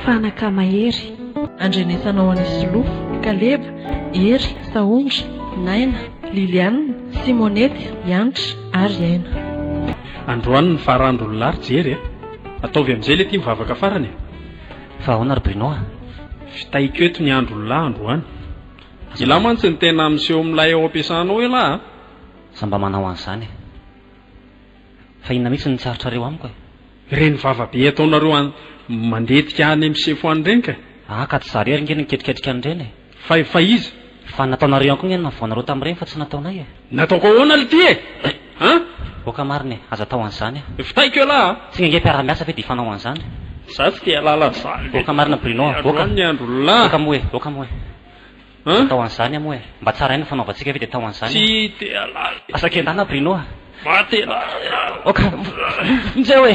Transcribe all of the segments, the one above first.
Fanaka mahery. Andrenesanao an'i Solofo, Kaleba, Hery, Sahondra, Naina, Liliane, Simonette, Hanitra ary Aina. Androany ny faran'drony lahy ry Jery eh. Ataovy amizay le ty mivavaka farany eh. Fa ahoana ry Bruno a? Vitaiko eto ny andron'ny lahy androany. Ialahy mantsy ny tena miseho milay ao ampiasanao ialahy a! Za mba manao an'izany e! Fa inona mihitsy no tsy aritrareo amiko e! Ireny vava be ataonareo any mandetika any amin'ny sefo any ireny kay! Aa ka tsy za irery nge no niketriketrika an'ireny e! Fa fa iza? Fa nataonareo ihany koa nge ny navoanareo tamin'ireny fa tsy nataonay e! Nataoko ahoana le ty e? An? Oka marina e! Aza atao an'izany a! Vitaiko elah a! Tsy nge nge mpiara-miasa ve dia hifanao an'izany? Za tsy dia lala an'izany le! Oka marina Bruno a! Oka! Oka moa e! Oka moa e! Aza atao an'izany a moa e! Mba tsara ihany ny fanaovantsika ve dia atao an'izany a! Tsy dia lala e! Asa kendana Bruno a! Maty elah! Oka! Injao e!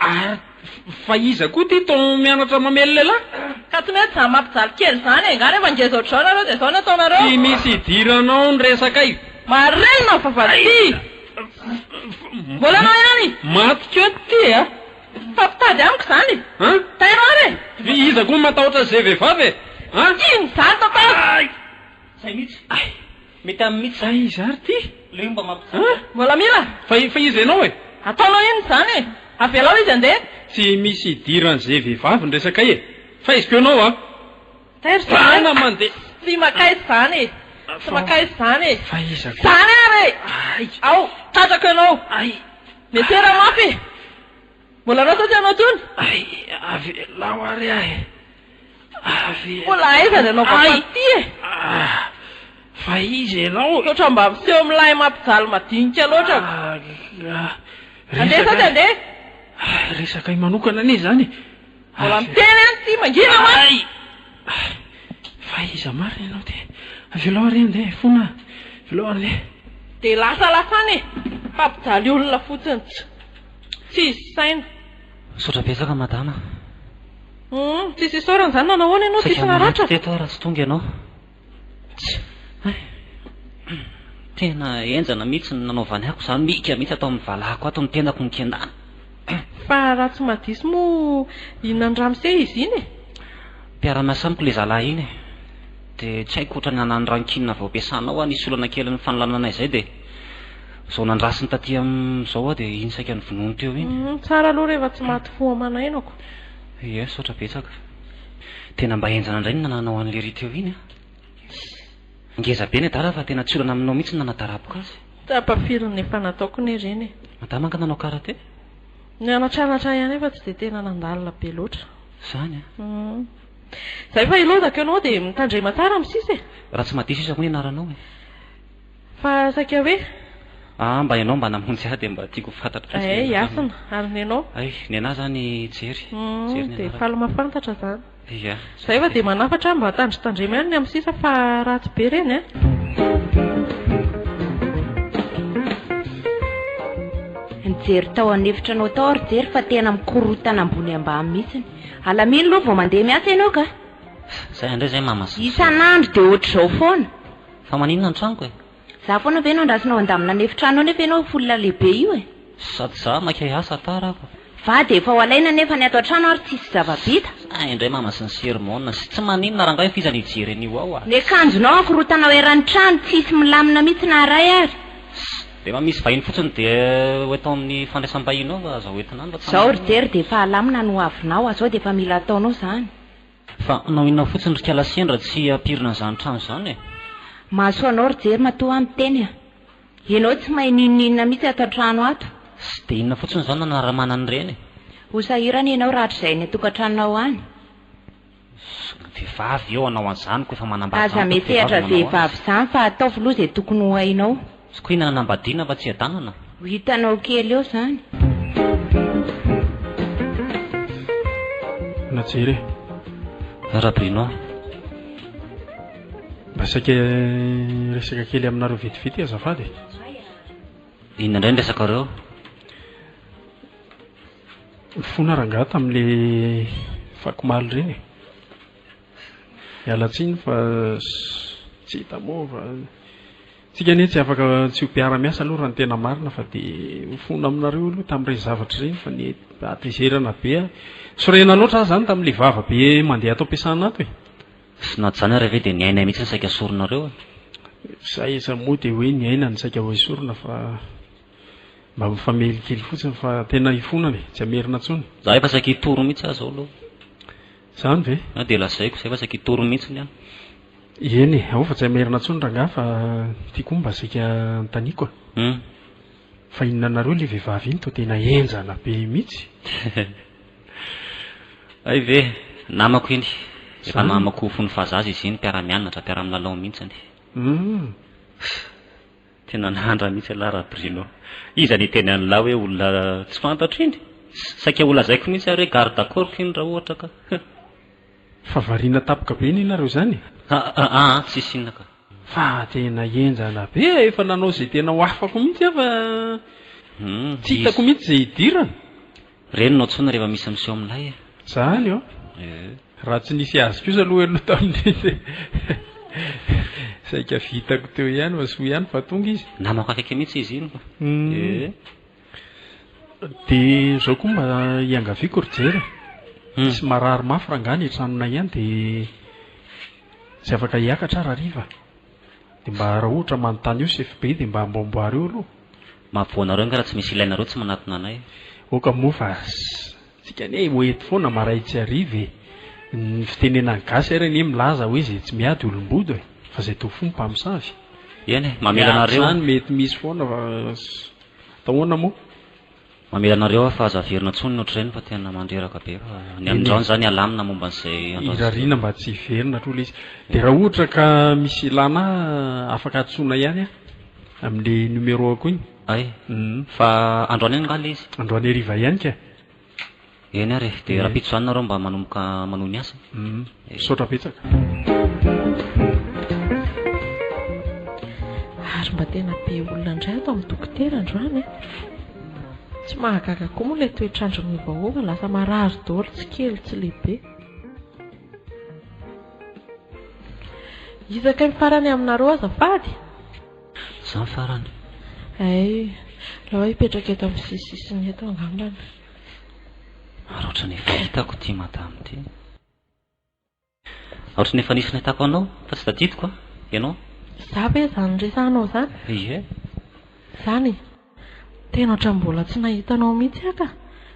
Ary fa iza koa ity to mianatra mamely lehilahy? Ka tsy mety zany mampijaly kely zany e! Nga rehefa ngeza ohatr'izao nareo dia zao ny ataonareo? Tsy misy hidiranao ny resakay. Marenina ny vavahady ity! Mbola anao ihany? Maty keo ity e! Fa mpitady amiko izany e! An? Tairara e! Dia iza koa matahotra izay vehivavy e! An? Inona izany tantara? Ay! Izay mihitsy. Ay! Mety aminy mitsy zany. Aiza ary ty? Le omba mampijaly. An? Malamila? Fa fa iza ianao e? Ataonao inona izany e? Avelao izy handeha. Tsy misy idiran'izay vehivavy ny resakay e! Faiziko ianao an! Tairo zany an! Bana mandeha! Tsy makaiza izany e! Tsy makaiza izany e! Fa iza koa? Izany ary e! Ay! Ao! Tratrako ianao! Ay! Miantehera mafy e! Mbola rasa tsy hanao tony? Ay, avelao ary ahy. Avelao. Mbola aiza ny anao vao faty e? Ah, fa iza ianao e? Misaotra mba miseho milay mampijaly madinika loatra. Ah, Andeha sady andeha. Ah, resaka ahy manokana anie izany e. Mbola miteny any ity mangina mantsy. Ay! Ah, fa iza marina ianao ty? Avelao ary andeha e, fona aho. Avelao andeha. Dia lasa lasana e. Fa mpijaly olona fotsiny. Tsisy saina. Misaotra betsaka madama. Humm tsisy isaorana izany nanao ahoana ianao tsisy naratra? Saika maty teto aho raha tsy tonga ianao. Tena henjana mihitsy ny nanaovany ahy ko za mika mihitsy ato amin'ny valahako ato ny tenako nikendana. Fa raha tsy mahadiso moa inonan'i ramose izy iny e? Mpiara-miasa amiko ilay zalahy iny e. Dia tsy haiko ohatran'ny hanany rankine vao ampiasana ao aho nisy olana kely nifanolanana izay dia. Izao nandrasiny taty amin'izao aho dia iny saika novonoiny teo iny. Hum, tsara aloha rehefa tsy maty fo aman'ainako. Ie, misaotra betsaka fa. Tena mba henjana indray ny nananao an'i Léry teo iny an! Ngeza be ny adala fa tena tsy olana aminao mihitsy ny nanatarapoko azy. Tapafirin'ny efa nataoko ny Léry e! Madama angaha nanao karate? Nianatranatra ihany aho fa tsy dia tena nandalina be loatra. Izany an! Hum. Izay fa hilodako ianao dia mitandrema tsara amin'ny sisa e! Raha tsy mahadiso izy hoy ny anaranao e! Fa saika hoe. Aa mba enao mba namonjy ahy dia mba tiako fantatro fotsiny enao. Ay hasina, ary nenao? Ay nenah zany jery, jery nenah. Dia faly mafantatra zany. Ia. Zay fa dia manafatra mba tandritandremo ihany ny amin'ny sisa fa ratsy be ireny an. Nijery tao an efitranao tao aho ry jery fa tena mikorotana ambony ambany mihitsiny. Alamino aloha vao mandeha miasa enao ka. Zay indray zay mamas. Isan'andro dia ohatr'izao foana. Fa maninona ny tranoko e? Za foana ve no andrasonao handamina ny efitrano ao nefa ianao io folona lehibe io e? Sady za maika hiasa tara ako. Vady efa ho alaina nefa ny ato an-trano ary tsisy zava-bita. Hay indray mama sy ny sermona sy tsy maninona rangahy fa iza no hijery an'io ao a! Ny akanjonao ankorontana ao eran'ny trano, tsisy milamina mihitsy na iray ary. Sss! Rehefa misy vahiny fotsiny dia ho eto amin'ny fandraisam-bahiny ao fa aza ho entina any fa tsy Zao ry Jerry dia efa alamina ny ho avinao, azao dia efa mila ataonao izany. Fa hanao inona fotsiny ry kala sendra tsy hampirina an'izany trano izany e! Mahasoa anao ry Jery matoa aho miteny a! Ianao tsy mahay n'inon'inona mihitsy ato an-trano ato! Tsy dia inona fotsiny izany nanaramana an'ireny e! Ho sahirana ianao rahatrizay any an-tokantranonao any! Vehivavy eo hanao an'izany koa efa manambady izany koa vehivavy no nanao azy! Aza mety hihatra vehivavy izany fa ataovy loha izay tokony ho hainao! Zokiana hanambadiana fa tsy hiadanana? Ho hitanao kely eo izany. Na jere. Ra Bruno. Mba saika hiresaka kely aminareo vetivety azafady e. Inona indray ny resakareo? Nifona rangaha tamin'ilay fakimalo ireny e. Miala tsiny fa tsy hita moa fa. Tsika anie tsy afaka tsy ho mpiara miasa aloha raha ny tena marina fa dia ho fona aminareo aloha tamin'ny ireny zavatra ireny fa ny hatezerana be ahy sorena loatra aho izany tamin'ilay vava be mandeha ato am-piasana ato e! Tsy nahazo izany ary ve dia ny ainay mihitsy no saika soronareo e! Za aiza moa dia hoe ny aina no saika ho esorina fa mba mifamely kely fotsiny fa tena hifonana e! Tsy hamerina intsony. Za efa saika hitory mihitsy aho zao aloha. Izany ve? Na dia lazaiko izay fa saika hitory mihitsiny aho. Eny e, ao fa tsy hay maherina intsony rangahy fa ity koa mba saika hanontaniako a! Hum. Fa inona anareo ilay vehivavy iny toa tena henjana be mihitsy? Hay ve! Namako iny. Efa namako fony fahazaza izy iny, mpiara-mianatra, mpiara-milalao mihitsiny. Hum. Tena nandra mihitsy ialahy Rabruno. Iza niteny an'ilahy hoe olona tsy fantatro iny? Saika ho lazaiko mihitsy ary hoe garde corps iny raha ohatra ka. Huh. Fa variana tampoka be anie nareo izany e! Ha ah ah tsisy inona ka. Fa tena henjana be e! Efa nanao izay tena ho afako mihitsy aho fa tsy hitako mihitsy izay hidirana. Reniny ao tsony rehefa misy miseho milay e. Zany ô! Raha tsy nisy azy kosa aloha ianao tamin'iny dia saika vitako teo ihany fa soa ihany fa tonga izy. Namako akaiky mihitsy izy iny e. Dia zao koa mba iangaviako ry Jerry e, misy marary mafy rangahy any an-tranonay any dia tsy afaka hiakatra aho raha hariva. Dia mba raha ohatra manontany io sy FBI dia mba amboamboary eo aloha. Mahavoa anareo nga raha tsy misy ilainareo tsy manatona anay e. Oka moa fa tsika anie ho eto foana maray tsy hariva e. Ny fitenenan'ny gasy ary anie milaza hoe izay tsy miady olom-bodo e. Fa izay toa fo ny mpamosavy. Eny e, mamela anareo. Miady izany mety misy foana fa atahoana moa. Mamela anareo aho fa aza averina tsony ny otrreny fa tena mandreraka be fa ny amin'izao ny za ny alamina momba an'izay androany sy Irariana mba tsy hiverina hatro ilay izy. Dia raha ohatra ka misy ilàna ahy afaka antsoina ihany an, amin'ilay numéro-ko iny. Hay. Fa androany ihany angaha ilay izy? Androany hariva ihany ka e. Eny ary e, dia rahampitso izany nareo mba manomboka manohy ny asa. Misaotra betsaka. Ary mba tena be olona indray ato amin'ny dokotera androany e. Tsy mahagaga koa moa ilay toetr'andro miovaova, lasa marary daholo tsy kely tsy lehibe. Iza kay farany aminareo azafady? Izaho farany. Hay, aleo aho hipetraka eto amin'ny sisisisiny eto angambany. Ary ohatrany efa hitako ity madame ity. Ohatrany efa nisy nahitako anao fa tsy tadidiko an! Ianao? Za ve izany resahanao izany? Ie. Izany e! Tena ohatrany mbola tsy nahita anao mihitsy aho ka!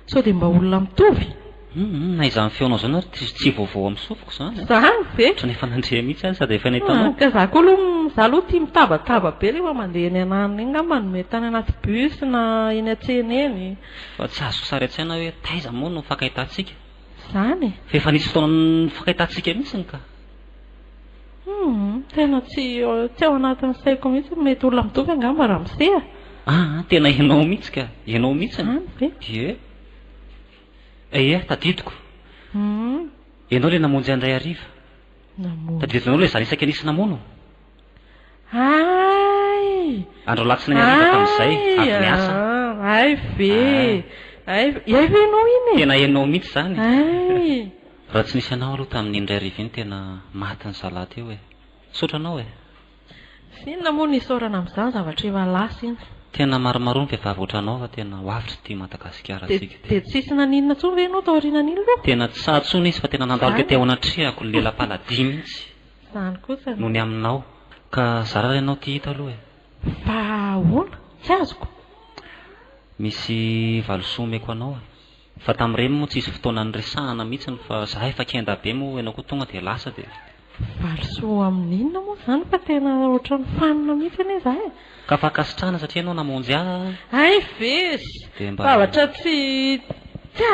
Sao dia mba olona mitovy? Hum hum, na izany feonao izany ary tsy tsy vaovao amin'ny sofiko izany. Izany ve? Ohatrany efa nandre mihitsy aho sady efa nahita anao. Ka za koa aloha hum, za aloha tia mitabataba be rehefa mandeha eny an'alina eny angamba no mety any anaty bus na eny an-tsena eny. Fa tsy azoko sary an-tsaina hoe taiza moa no nifankahitantsika. Izany e! Fa efa nisy fotoana nifankahitantsika mihitsiny ka. Humm, tena tsy tsy ao anatin'ny saiko mihitsy, mety olona mitovy angamba ramose a! Ah, tena ianao mihitsy ka! Ianao mihitsy no. Izany ve? Ie. Eia, tadidiko. Humm. Ianao ilay namonjy ahy indray hariva. Namonjy. Tadidinao ilay zana isaky ny nisy namono? Ay! Andro alatsinainy hariva tamin'izay, avy niasa. Ay, ay ve! Ay, ay ve ianao iny e! Tena ianao mihitsy izany e! Ay! Raha tsy nisy anao aloha tamin'iny indray hariva iny tena maty ny zalah teo e! Misaotra anao e! Sy inona moa no isaorana amin'izany zavatra efa lasa iny. Tena maromaroa ny vehivavy ohatranao fa tena ho avotra ity Madagasikara antsika ity. Dia tsy hisy naninona intsony ve ianao taorianan'iny aloha? Tena tsy sahy intsony izy fa tena nandalo tety ao anatrehako, lela-paladia mihitsy. Izany kosa. No ny aminao. Ka zara raha ianao tia hita aloha e. Fa ahoana? Tsy azoko. Misy valisoa omeko anao e. Fa tamin'ireny moa tsisy fotoana niresahana mihitsiny fa za efa kenda be moa ianao koa tonga dia lasa dia. Valisoa amin'inona moa izany fa tena ohatran'ny fanina mihitsy anie za e. Ka fankasitrahana satria ianao namonjy ahy a. Hay ve izy. Dia mba. Zavatra tsy, tsy,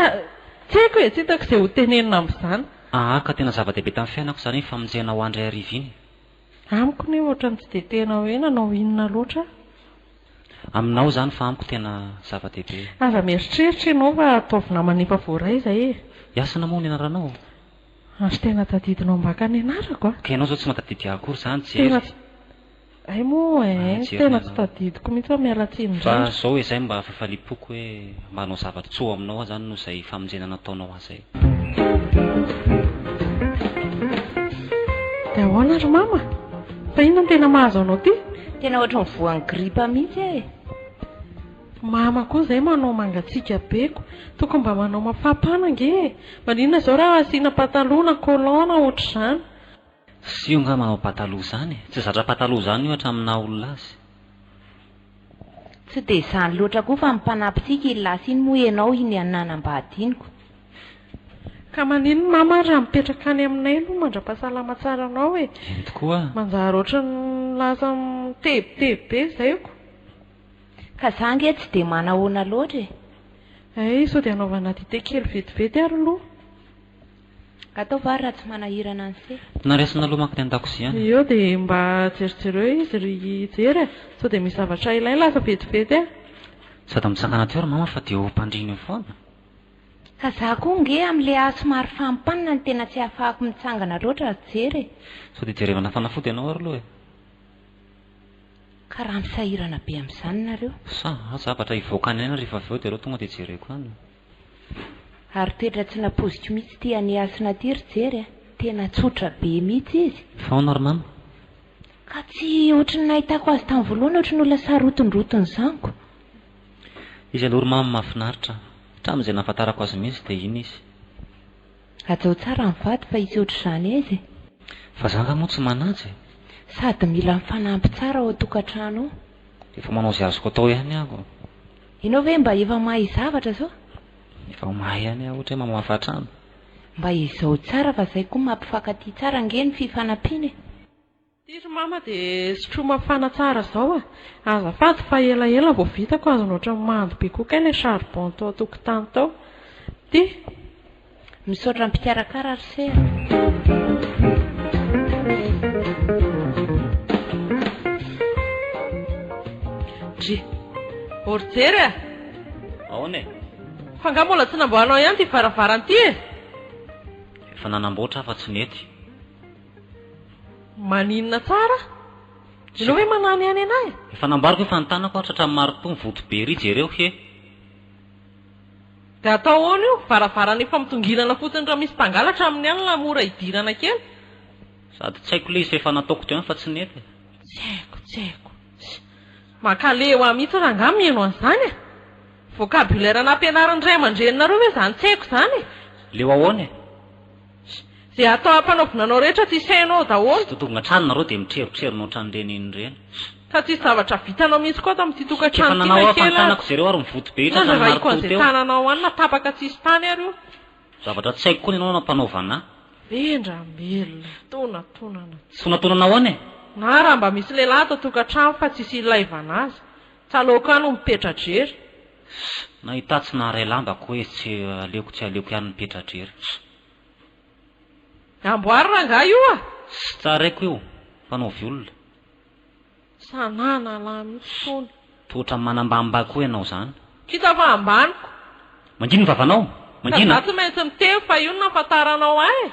tsy haiko e, tsy hitako izay ho tenenina amin'izany. Aa ka tena zava-dehibe tamin'ny fiainako izany iny famonjena ho an-dry hariva iny. Amiko ny hoe ohatran'ny tsy dia tena hoe nanao inona loatra aho. Aminao izany fa amiko tena zava-dehibe. Aza mieritreritra ianao fa ataovy namana efa voaray izay e! Iasana moa ny anaranao? Ary tena tadidinao ambaka ny anarako a! Ka ianao izao tsy mahatadidy ahy akory izany, Jerry? Hay moa eh, Mahajery ny tena tsy anao. tadidiko mihitsy aho, miala tsiny Fa indrindra. zao izay mba fifaliam-poko hoe mba hanao zavatra tsoa aminao aho zany noho izay famonjena nataonao ahy zay. Dia ahoana ry mama? Fa inona no tena mahazo anao ty? Tena ohatry ny voan'ny gripa mihitsy aho e. Mama koa izay manao mangatsiaka be ko. Tokony mba manao mafapana ange e. Maninona izao raha asiana pataloha na collant na ohatr'izany. Tsy io ngah manao pataloha izany e! Tsy zatra pataloha izany io hatramin'ny naha olona azy. Tsy dia izany loatra koa fa mpanampitsiaka iny lasa iny moa ianao iny an nanambadiniko. Ka manino ny mama ary raha mipetraka any aminay aloha mandrapahasalama tsara anao e! Eny tokoa. Manjary ohatran'ny lasa mitebiteby be zaiko. Ka za ange tsy dia manahoana loatra e! Hay sao dia anaovana dite kely vetivety ary lo. Atao vary raha tsy manahirana anse. Naraisina lo manko ny andakozia any. Eo dia mba jerijereo izy ry Jery e! Sao dia misy zavatra ilainy lasa vetivety e! Sady misakana teo ry mama fa dia ho mpandrina eo foana. Ka za koa nge amin'le ahy somary fampanina no tena tsy ahafahako mitsangana loatra ry Jery e! Sao dia jerevana fanafody ianao ary lo e! Ka raha misahirana be amin'izany nareo. Sa zavatra hivoaka any aina rehefa avy eo dia ireo tonga dia jereko any. Ary toetra tsy napoziko mihitsy ity any hasina ity ry Jery a! Tena tsotra be mihitsy izy. Faona ry mama? Ka tsy ohatry ny nahitako azy tamin'ny voalohany ohatry ny olona sarotondroton'ny zanako. Izy aloha ry mama mahafinaritra an! Hatramin'izay nahafantarako azy mihitsy dia iny izy. Hajao tsara ny vady fa hisy ohatr'izany aiza e! Fa za nga moa tsy manaja e! Sady mila mifanampy tsara ao an-tokantrano ao. Efa manao izay azoko atao ihany aho. Ianao ve mba efa mahay zavatra zao? Efa mahay ihany aho ohatra hoe mamafa trano. Mba ezao tsara fa zay koa mampifankatia tsara ange ny fifanampiana e. Ity ry mama dia sotroy mafana tsara zao a! Azafady fa elaela vao vitako azony ohatran'ny mando be koa kay ilay charbon tao an-tokotany tao. Ity. Misaotra mpikarakara ry se a. Orjery a! Aona e? Fa nga mbola tsy namboahanao ihany ty varavarana ty e? Efa nanamboatra aho fa tsy nety. Maninona tsara? Ianao ve mananihany anahy? Efa nambariko efa ny tanako aho tratran'ny marotoa mivoto be ery jereo he. Dia atao ahoana io? Varavarana efa mitongilana fotsiny raha misy mpangalatra amin'ny alina mora idirana kely. Sady tsy haiko ilay izy fa efa nataoko teo ihany fa tsy nety e. Tsy haiko, tsy haiko. Mankaleo ahy mihitsy rangahy ny mihaino an'izany e! Vocabulaire nampianarin'ny ray aman-dreninareo ve izany tsy haiko izany e? Leo ahoana e? Ze atao ampanaovina anao rehetra tsy isainao Tsy daholo. totogna hatrany nareo dia mitrerotrero notrany ireny inona ireny. Ka tsisy zavatra vitanao mihitsy koa ato amin'ity tokantrano Efa ity nanao na aho fa ny kely tanako ary. izereo ary mivoty be Inona hatrany zarahiko an'izay marotoa teo. tananao any na tapaka tsisy tany ary io. Zavatra tsy haiko koa ny anao nampanaovana ahy. Vendramelona, tonatonana tsy. Tonatonana ahoana e? Na raha mba misy lehilahy ato an-tokantrano fa tsisy ilaivana azy. Tsalaoko any ho mipetra-drery. Nahita tsy naharay lamba ko e tsy aleoko tsy aleoko ihany mipetra drery. Amboary rangahy io a! Tsy tsaraiko io fa no violona. Sa nanalahy mihitsy tony. Tohotra manambamba koa ianao zany. Kisa fa ambaniko. Mangina ny vavanao, mangina. Ka za tsy maintsy miteny fa io no nahafantaranao ahy e.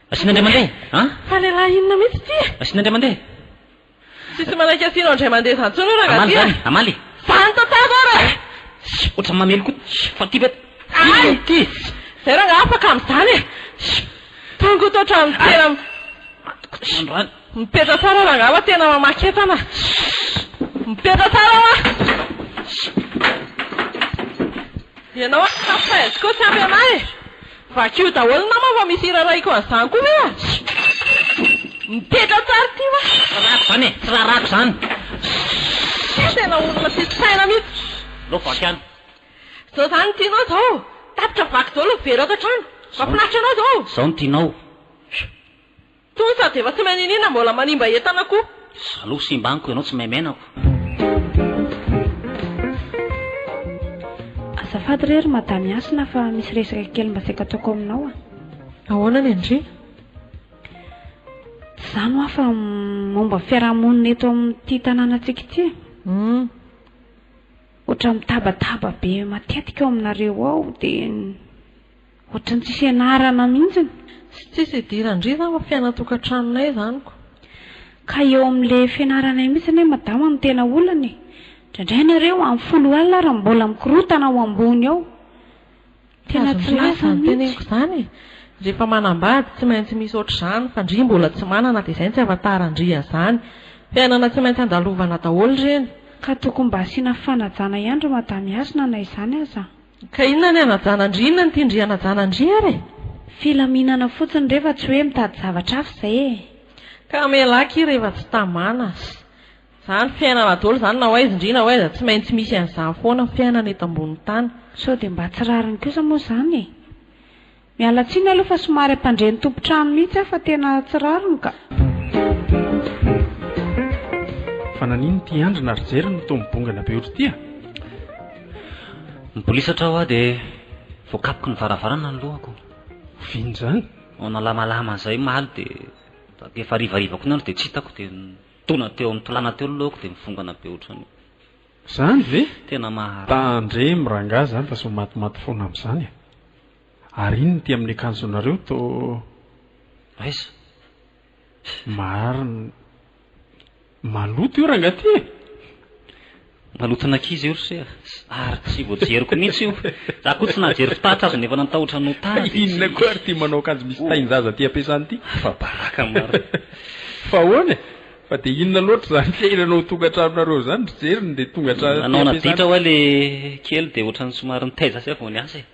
Asiana indray mandeha a! Fa lehilahy inona mihitsy ity e! Asiana indray mandeha. Tsisy manaiky asianao indray mandeha izany intsony hoe rangahy ty a! Hamaly izany e! Hamaly e! Izany tantara ary e! Shh! Ohatran'ny mamely koa ty! Fa ty ve? Inona ity? Izay rangahy afaka amin'izany e! Shh! Tongotra ohatran'ny tena. Shh! Androany. Mipetra tsara rangah fa tena mamaky entana a! Mipetra tsara hoa! Ianao ary staff Paez koa tsy ampy anah e! Vakio daholo ny namako fa misy hira arahiko an'izany koa ve a! Mipetra tsara ity hoa! Rarako izany e! Tsy rarako izany! Tena olona tsisy saina mihitsy! Aleo vaky any! Izao izany no tianao izao! Tapitra vaky daholo ny vera ato an-trano! Mahafinaritra anao izao! Izao no tianao! Tony sady efa tsy mahay niniana mbola manimba entana koa. Jaloux simba amiko ianao tsy mahay menako. Azafady re ry madame Hasina fa misy resaka kely mba saika ataoko aminao a! Ahoana ny andriana? Tsy izany hoa fa momba ny fiarahamonina eto amin'ity tanànantsika ity e! Hum. Ohatran'ny mitabataba be matetika ao aminareo ao dia. Ohatran'ny tsy fianarana mihitsy. Tsy tsisy idiran-dry izany fa fiainan-tokantranonay izany ko. Ka eo amin'ilay fianarana io mihitsy anie madama no tena olana e. Indraindray nareo amin'ny folo alina ary mbola mikorotana ao ambony ao. Tena tsy lasa mihitsy. Azony ve izany teneniko izany e. Rehefa manambady tsy maintsy misy ohatr'izany fa ndry mbola tsy manana dia izay no tsy ahafantaran-dry azany. Fiainana tsy maintsy andalovana daholo ireny. Ka tokony mba asiana fanajana ihany ry madame Hasina na izany aza. Ka inona ny anajana an-dry inona ny tian-dry hanajana an-dry ary e? Filaminana fotsiny re fa tsy hoe mitady zavatra hafa izay e! Ka amela akia rehefa tsy tamana sy. Izany fiainana daholo izany na hoaiza indry na hoaiza tsy maintsy misy an'izany foana ny fiainana eto ambonin'ny tany. Sao dia mba tsy rariny kosa moa izany e? Miala tsiny aloha fa somary ampandre ny tompon-trano mihitsy aho fa tena tsy rariny ka. Fa nanino ity andrina ry jerry no toa mibongana be otry ity a? Mibolisatra aho dia voakapoky ny varavarana ny lohako. Oviana izany? Vao nalamalama izay omaly dia taty efa harivariva koa ny andro dia tsy hitako dia nitona teo amin'ny tolàna teo ny lohako dia mivongana be otrany. Zany ve? Tena maharary. Tandremo rangah zany fa sy ho matimaty fona amzany e! Ary inn ity amin'ny akanjonareo to? Aiza? Marina. Maloto io rangah ty e! Maloton'ankizy io ry se a! Ary tsy voajeriko mihitsy io! Za koa tsy nahajery fitaratra aza nefa nantahotra ny ho tany de tsy. Inona koa ary ty manao akanjo misy tahin-jaza aty am-piasana ity? Afa-baraka marina. Fa ahoana e! Fa dia inona loatra izany fiainana ao tongantranonareo izany ry jeriny dia tonga hatrany aty ampiasana. Nanao naditra hoa le kely dia ohatrany somary nitaiza zay vao niasa e.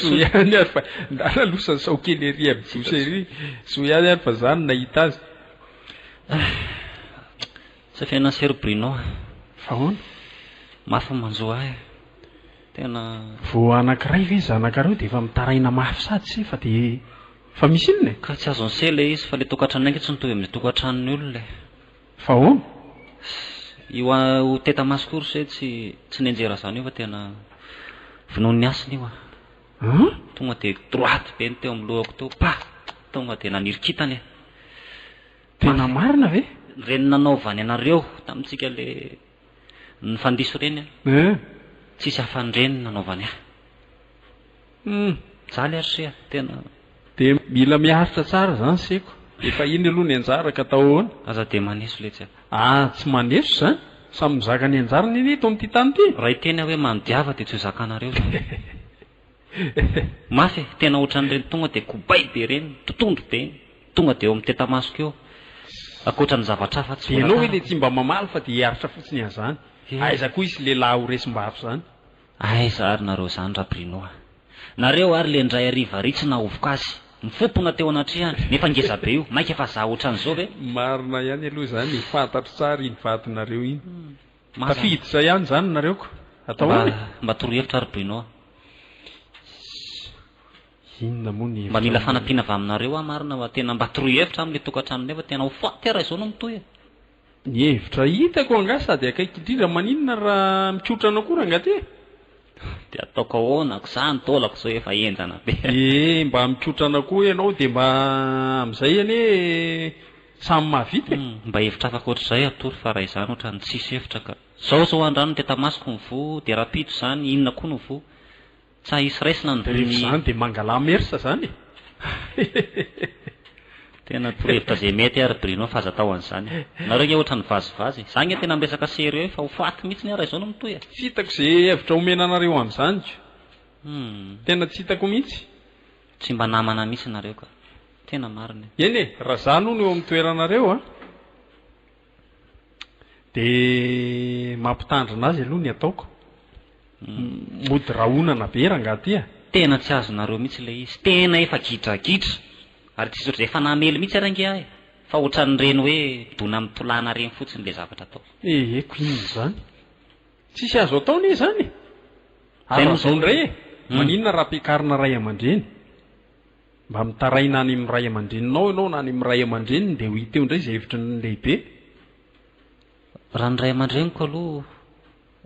Soa ihany ary fa ndà nalosan'i saokely ery amin'ny douche ery. Soa ihany ary fa zà no nahita azy. Sa fiainan'i Sœur Bruno a. Fa ahoana? Mafy ny manjo ahy. Tena. Vao anankiray ve zanakareo dia efa mitaraina mafy sady se fa dia. Fa misy inona e? Ka tsy azon'i se ilay izy fa ilay tokantranonay ange tsy mitovy amin'ny tokantranon'ny olona e. Fa ahoana? Sy io ho teta maso koa ry se tsy tsy nenjera izany io fa tena vonoin'ny hasina io ah. An? Tonga dia droite be ny teo amin'ny lohako teo pa! Tonga dia naniry kintana e. Tena marina ve? Ireny nanaovany anareo tamintsika ilay nifandiso ireny an! Tsisy afa-an'ireny nanaovany ahy. Humm mijaly ary se a! tena de mila miaritra tsara zany seko efa iny aloha ny anjara ka atao ahoana? Aza de maneso letsy a! Ah tsy maneso zany! Samy mizaka ny anjarany anie eto amin'ity tany ity! Raha hiteny aho hoe manodiava dia tsy ho zakanareo zany e! Mafy e! Tena otran'ireny tonga dia kobay be ireny, totohondry be, tonga dia eo amin'ny tetamasoko eo, ankoatra ny zavatra hafa tsy voatarako. Dia ianao ve dia tsy mba mamaly fa dia hiaritra fotsiny an'izany? Aiza koa hisy lehilahy ho resim-bafy zany? Aiza ary nareo zany ra Bruno a! Nareo ary le ndray hariva ry tsy nahovoka azy, mifopona teo anatrehany, nefa ngeza be io, maika fa za otranzao ve? Marina ihany aloha izany e, fantatro tsara iny vadinareo iny. Tafiditra ihany izany nareo ko. Atao ahoana e? Mba toro hevitra ry Bruno a! Inona moa ny hevitra aminareo? Mba mila fanampiana avy aminareo aho marina fa tena mba toro hevitra aminy le tokantranonay fa tena ho faty aho raha izao no mitohy e! Ny hevitra hitako angaha sady akaiky indrindra maninona raha mikotrana koa rangaty e! Dia ataoko ahoana ko za ny taolako zao efa henjana be. Ee mba mikotrana koa ianao dia mba amin'izay anie samy mahavita e! Mba hevitra afaka ohatr'izay atoro fa raha izany ohatrany tsisy hevitra ka. Zao zao andrano ny tetamasoko mivoha dia rahampitso izany inona koa no voa. Tsa hisy raisina ny Rehefa izany dia mangala mersa izany e! Tena torohevitra izay mety ary Bruno fa aza atao an'izany. Nareo nge ohatran'ny vazivazy e! Za nge tena miresaka sérieux fa ho faty mihitsy ny ahy raha izao no mitohy a! Tsy hitako izay hevitra omena anareo amin'izany ko! Tena tsy hitako mihitsy! Tsy mba namana mihitsy nareo ka! Tena marina io! Eny e! Raha za aloha no eo amin'ny toeranareo a! Dia mampitandrina azy aloha ny ataoko. Mody rahonana be rangaha ty a! Tena tsy azonareo mihitsy ilay izy, tena efa gidragidra ary tsy zotra, efa namely mihitsy ary ange ahy fa ohatran'ireny hoe dona mitolàna ireny fotsiny ilay zavatra ataoko. Eheko inona izany? Tsisy azo atao anie izany e! Ary raha izao indray e! Maninona raha ampiakarina ray aman-dreny? Mba mitaraina any amin'ny ray aman-dreninao ianao na any amin'ny ray aman-dreniny dia ho hita eo indray izay hevitry ny lehibe. Raha ny ray aman-dreniko aloha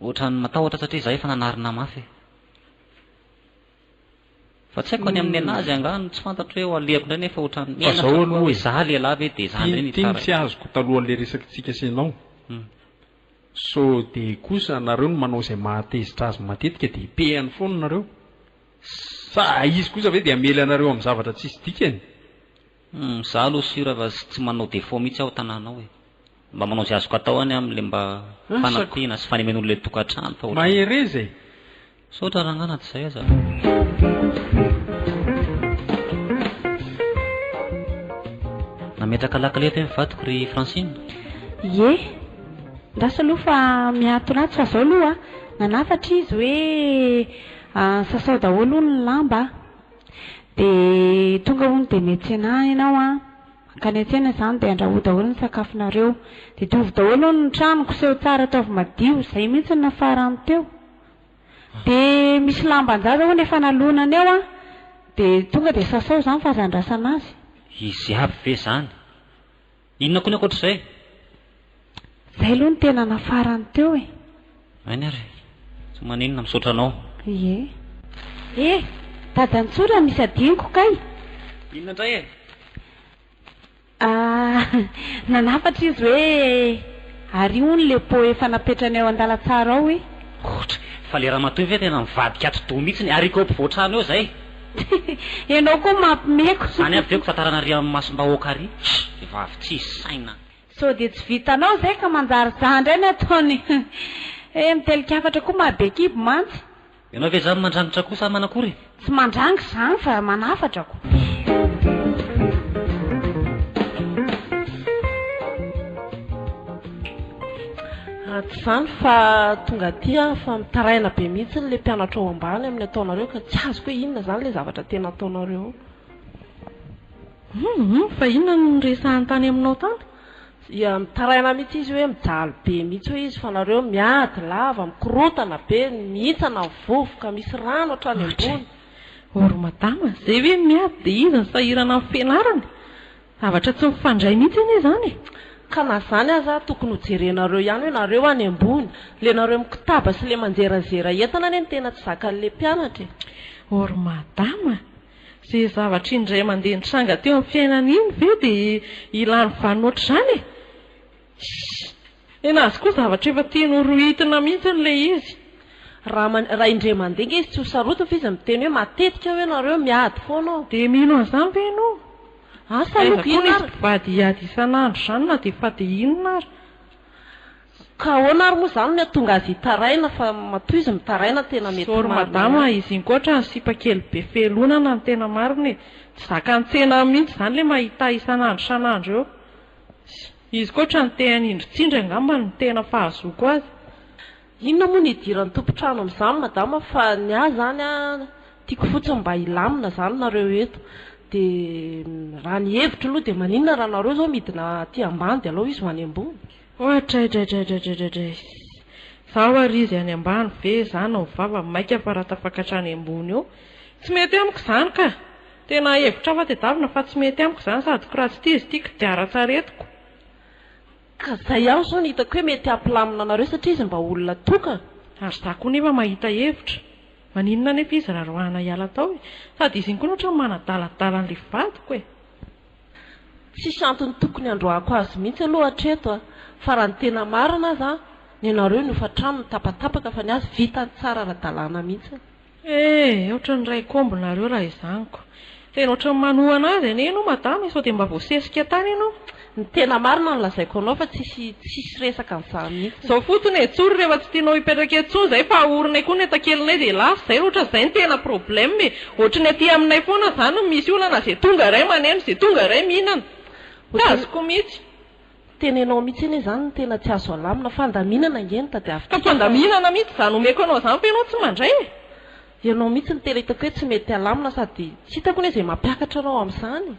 ohatran'ny matahotra satria izaho efa nanarina mafy e. Fa tsy haiko any amin'ny nenazy angaha no tsy fantatro hoe ho alehako indray nefa ohatran'ny menatra koa hoe izaho lehilahy ve dia izaho indray no hitsara. Tintin tsy azoko talohan'ilay resakitsika sy ianao. Sao dia kosa nareo no manao izay mahatezitra azy matetika dia pehany foana nareo. Sa izy kosa ve dia hamely anareo amin'ny zavatra tsisy dikany? Humm, za aloha sur fa tsy manao defaut mihitsy aho tananao e! Mba manao izay azoko atao any amin'ilay mba fanampiana sy fanemen'olona ilay tokantrano fa ohatran'ny. Mahereza e! Misaotra rangahy na tsy izay aza. Nametraka lakile ve ny vadiko ry Francine? Ie, andraso aloha fa mihatona ato fa zao aloha an, nanafatra izy hoe An, sasao daholo hono ny lamba a! Dia tonga hono dia miantsena ianao an! Mankany an-tsena izany dia andrahoy daholo ny sakafonareo. Diovy daholo hono ny trano, koseho tsara, ataovy madio. Izay mihitsy no nafarany teo. Dia misy lamban-jaza hono efa nalonany ao an! Dia tonga dia sasao izany fa aza andrasana azy. Izy avy ve izany? Inona koa ny ankoatr'izay? Zay aloha ny tena nafarany teo e. Aina ary. Tsy maninona, misaotra anao. Ie. E! Dada Ntsoo raha misy adinoko kay. Inona indray e? Ah, nanafatra izy hoe, Ary hono le pot efa napetrany eo an-dalantsara ao e. Ohatra, fa le ramatoa io ve tena mivadika atidoha mihitsy ny haricot ampovoan-trano eo zay? Enao koa mampimeko. Zany avy eo ko tatarana ary am masom bahoaka ary vehivavy tsisy saina. Sao dia tsy vitanao zay ka manjary za ndray ny ataony eh mitelikafatra koa maha be kibo mantsy. Ianao ve zany mandrangitra koa sa manakory e? Tsy mandrangitra zany fa manafatra ko. Raha tsy izany fa tonga aty aho fa mitaraina be mihitsy ilay mpianatra ao ambany amin'ny ataonareo ka tsy azoko hoe inona izany ilay zavatra tena ataonareo ao. Humm fa inona no niresahany tany aminao tany? Dia mitaraina mihitsy izy hoe mijaly be mihitsy hoe izy fa nareo miady lava, mikorontana be, mihintsana ny vovoka, misy rano hatrany ambony. Or madama, izay hoe miady dia izy no sahirana amin'ny fianarany? Zavatra tsy mifandray mihitsy anie izany e! Ka na zany aza tokony ho jerenareo ihany hoe nareo any ambony, le nareo mikotaba sy le manjerazera entana anie no tena tsy zakan'le mpianatra e! Oh ry madama a! Ze zavatra indray mandeha nitranga teo amin'ny fiainana iny ve dia hilany vanona ohatr'izany e! Shh! Tena azy koa zavatra efa tiany ho rohitina mihitsy ilay izy. Raha man, raha indray mandeha ange izy tsy ho sarotiny fa izy miteny hoe matetika ve nareo miady foana ao? Dia mino an'izany ve ianao? Asa aloha ka inona ary? Aiza koa misy mpivady hiady isan'andro izany na dia efa dia inona ary? Ka ahoana ary moa izany no hahatonga azy hitaraina fa matoa izy mitaraina no tena mety marina. Sorry madama a, izy iny koa ohatran'ny sipa kely be fehin'olana no tena marina e. Tsy zakan'ny tsena any mihitsy izany ilay mahita isan'andro isan'andro eo. Izy koa otrany te hanindry tsindry angamba no tena fahazoako azy. Inona moa no hidiran'ny tompon-trano amin'izany madama fa ny ahy izany a, tiako fotsiny mba hilamina izany nareo eto. Dia raha ny hevitro aloha dia maninona raha nareo izao midina aty ambany dia alao izy ho any ambony? Oatraidraidraidraidraidraidraiss! Izaho ary izy any ambany ve? Izaho no mivava, mainka fa raha tafakatra any ambony eo. Tsy mety amiko izany ka! Tena hevitra hafa tedavina fa tsy mety amiko izany sady kiratsitizy ty kodiaran-tsaretiko. Ka zay ihany zao no hitako hoe mety hampilamina anareo satria izy mba olona tokana. Ary za koa nefa mahita hevitra. Maninona anefa izy raha roahina hiala tao e? Sady izy iny koa ohatran'ny manadaladala an'ilay vadiko e. Tsisy antony tokony handroahako azy mihitsy aloha hatreto a. Fa raha ny tena marina aza an, nenareo ny hofa-trano nitapatapaka fa ny azy vitany tsara ara-dalàna mihitsy. Eh! Ohatran'ny raiko omby nareo raha izany ko! Tena ohatran'ny manohana azy anie ianao madama e! Sao dia mba voasesika tany ianao? Ny tena marina no lazaiko anao fa tsisy tsisy resaka an'izany mihitsy. Zao fotsiny e, tsory rehefa tsy tianao hipetraka eo intsony izay fa ahorinay koa ny entakelinay dia lasa izay, ohatra izay no tena problème e, ohatry ny aty aminay foana izany no misy olana, izay tonga iray maneno, izay tonga iray mihinana, tsy azoko mihitsy. Tena ianao mihitsy anie izany no tena tsy azo alamina. Fandaminana ange no tadiavintsika. Ka fandaminana mihitsy izany omeko anao izany fa ianao tsy mandray e! Ianao mihitsy no tena hitako hoe tsy mety alamina sady tsy hitako anie izay mampiakatra anao amin'izany e!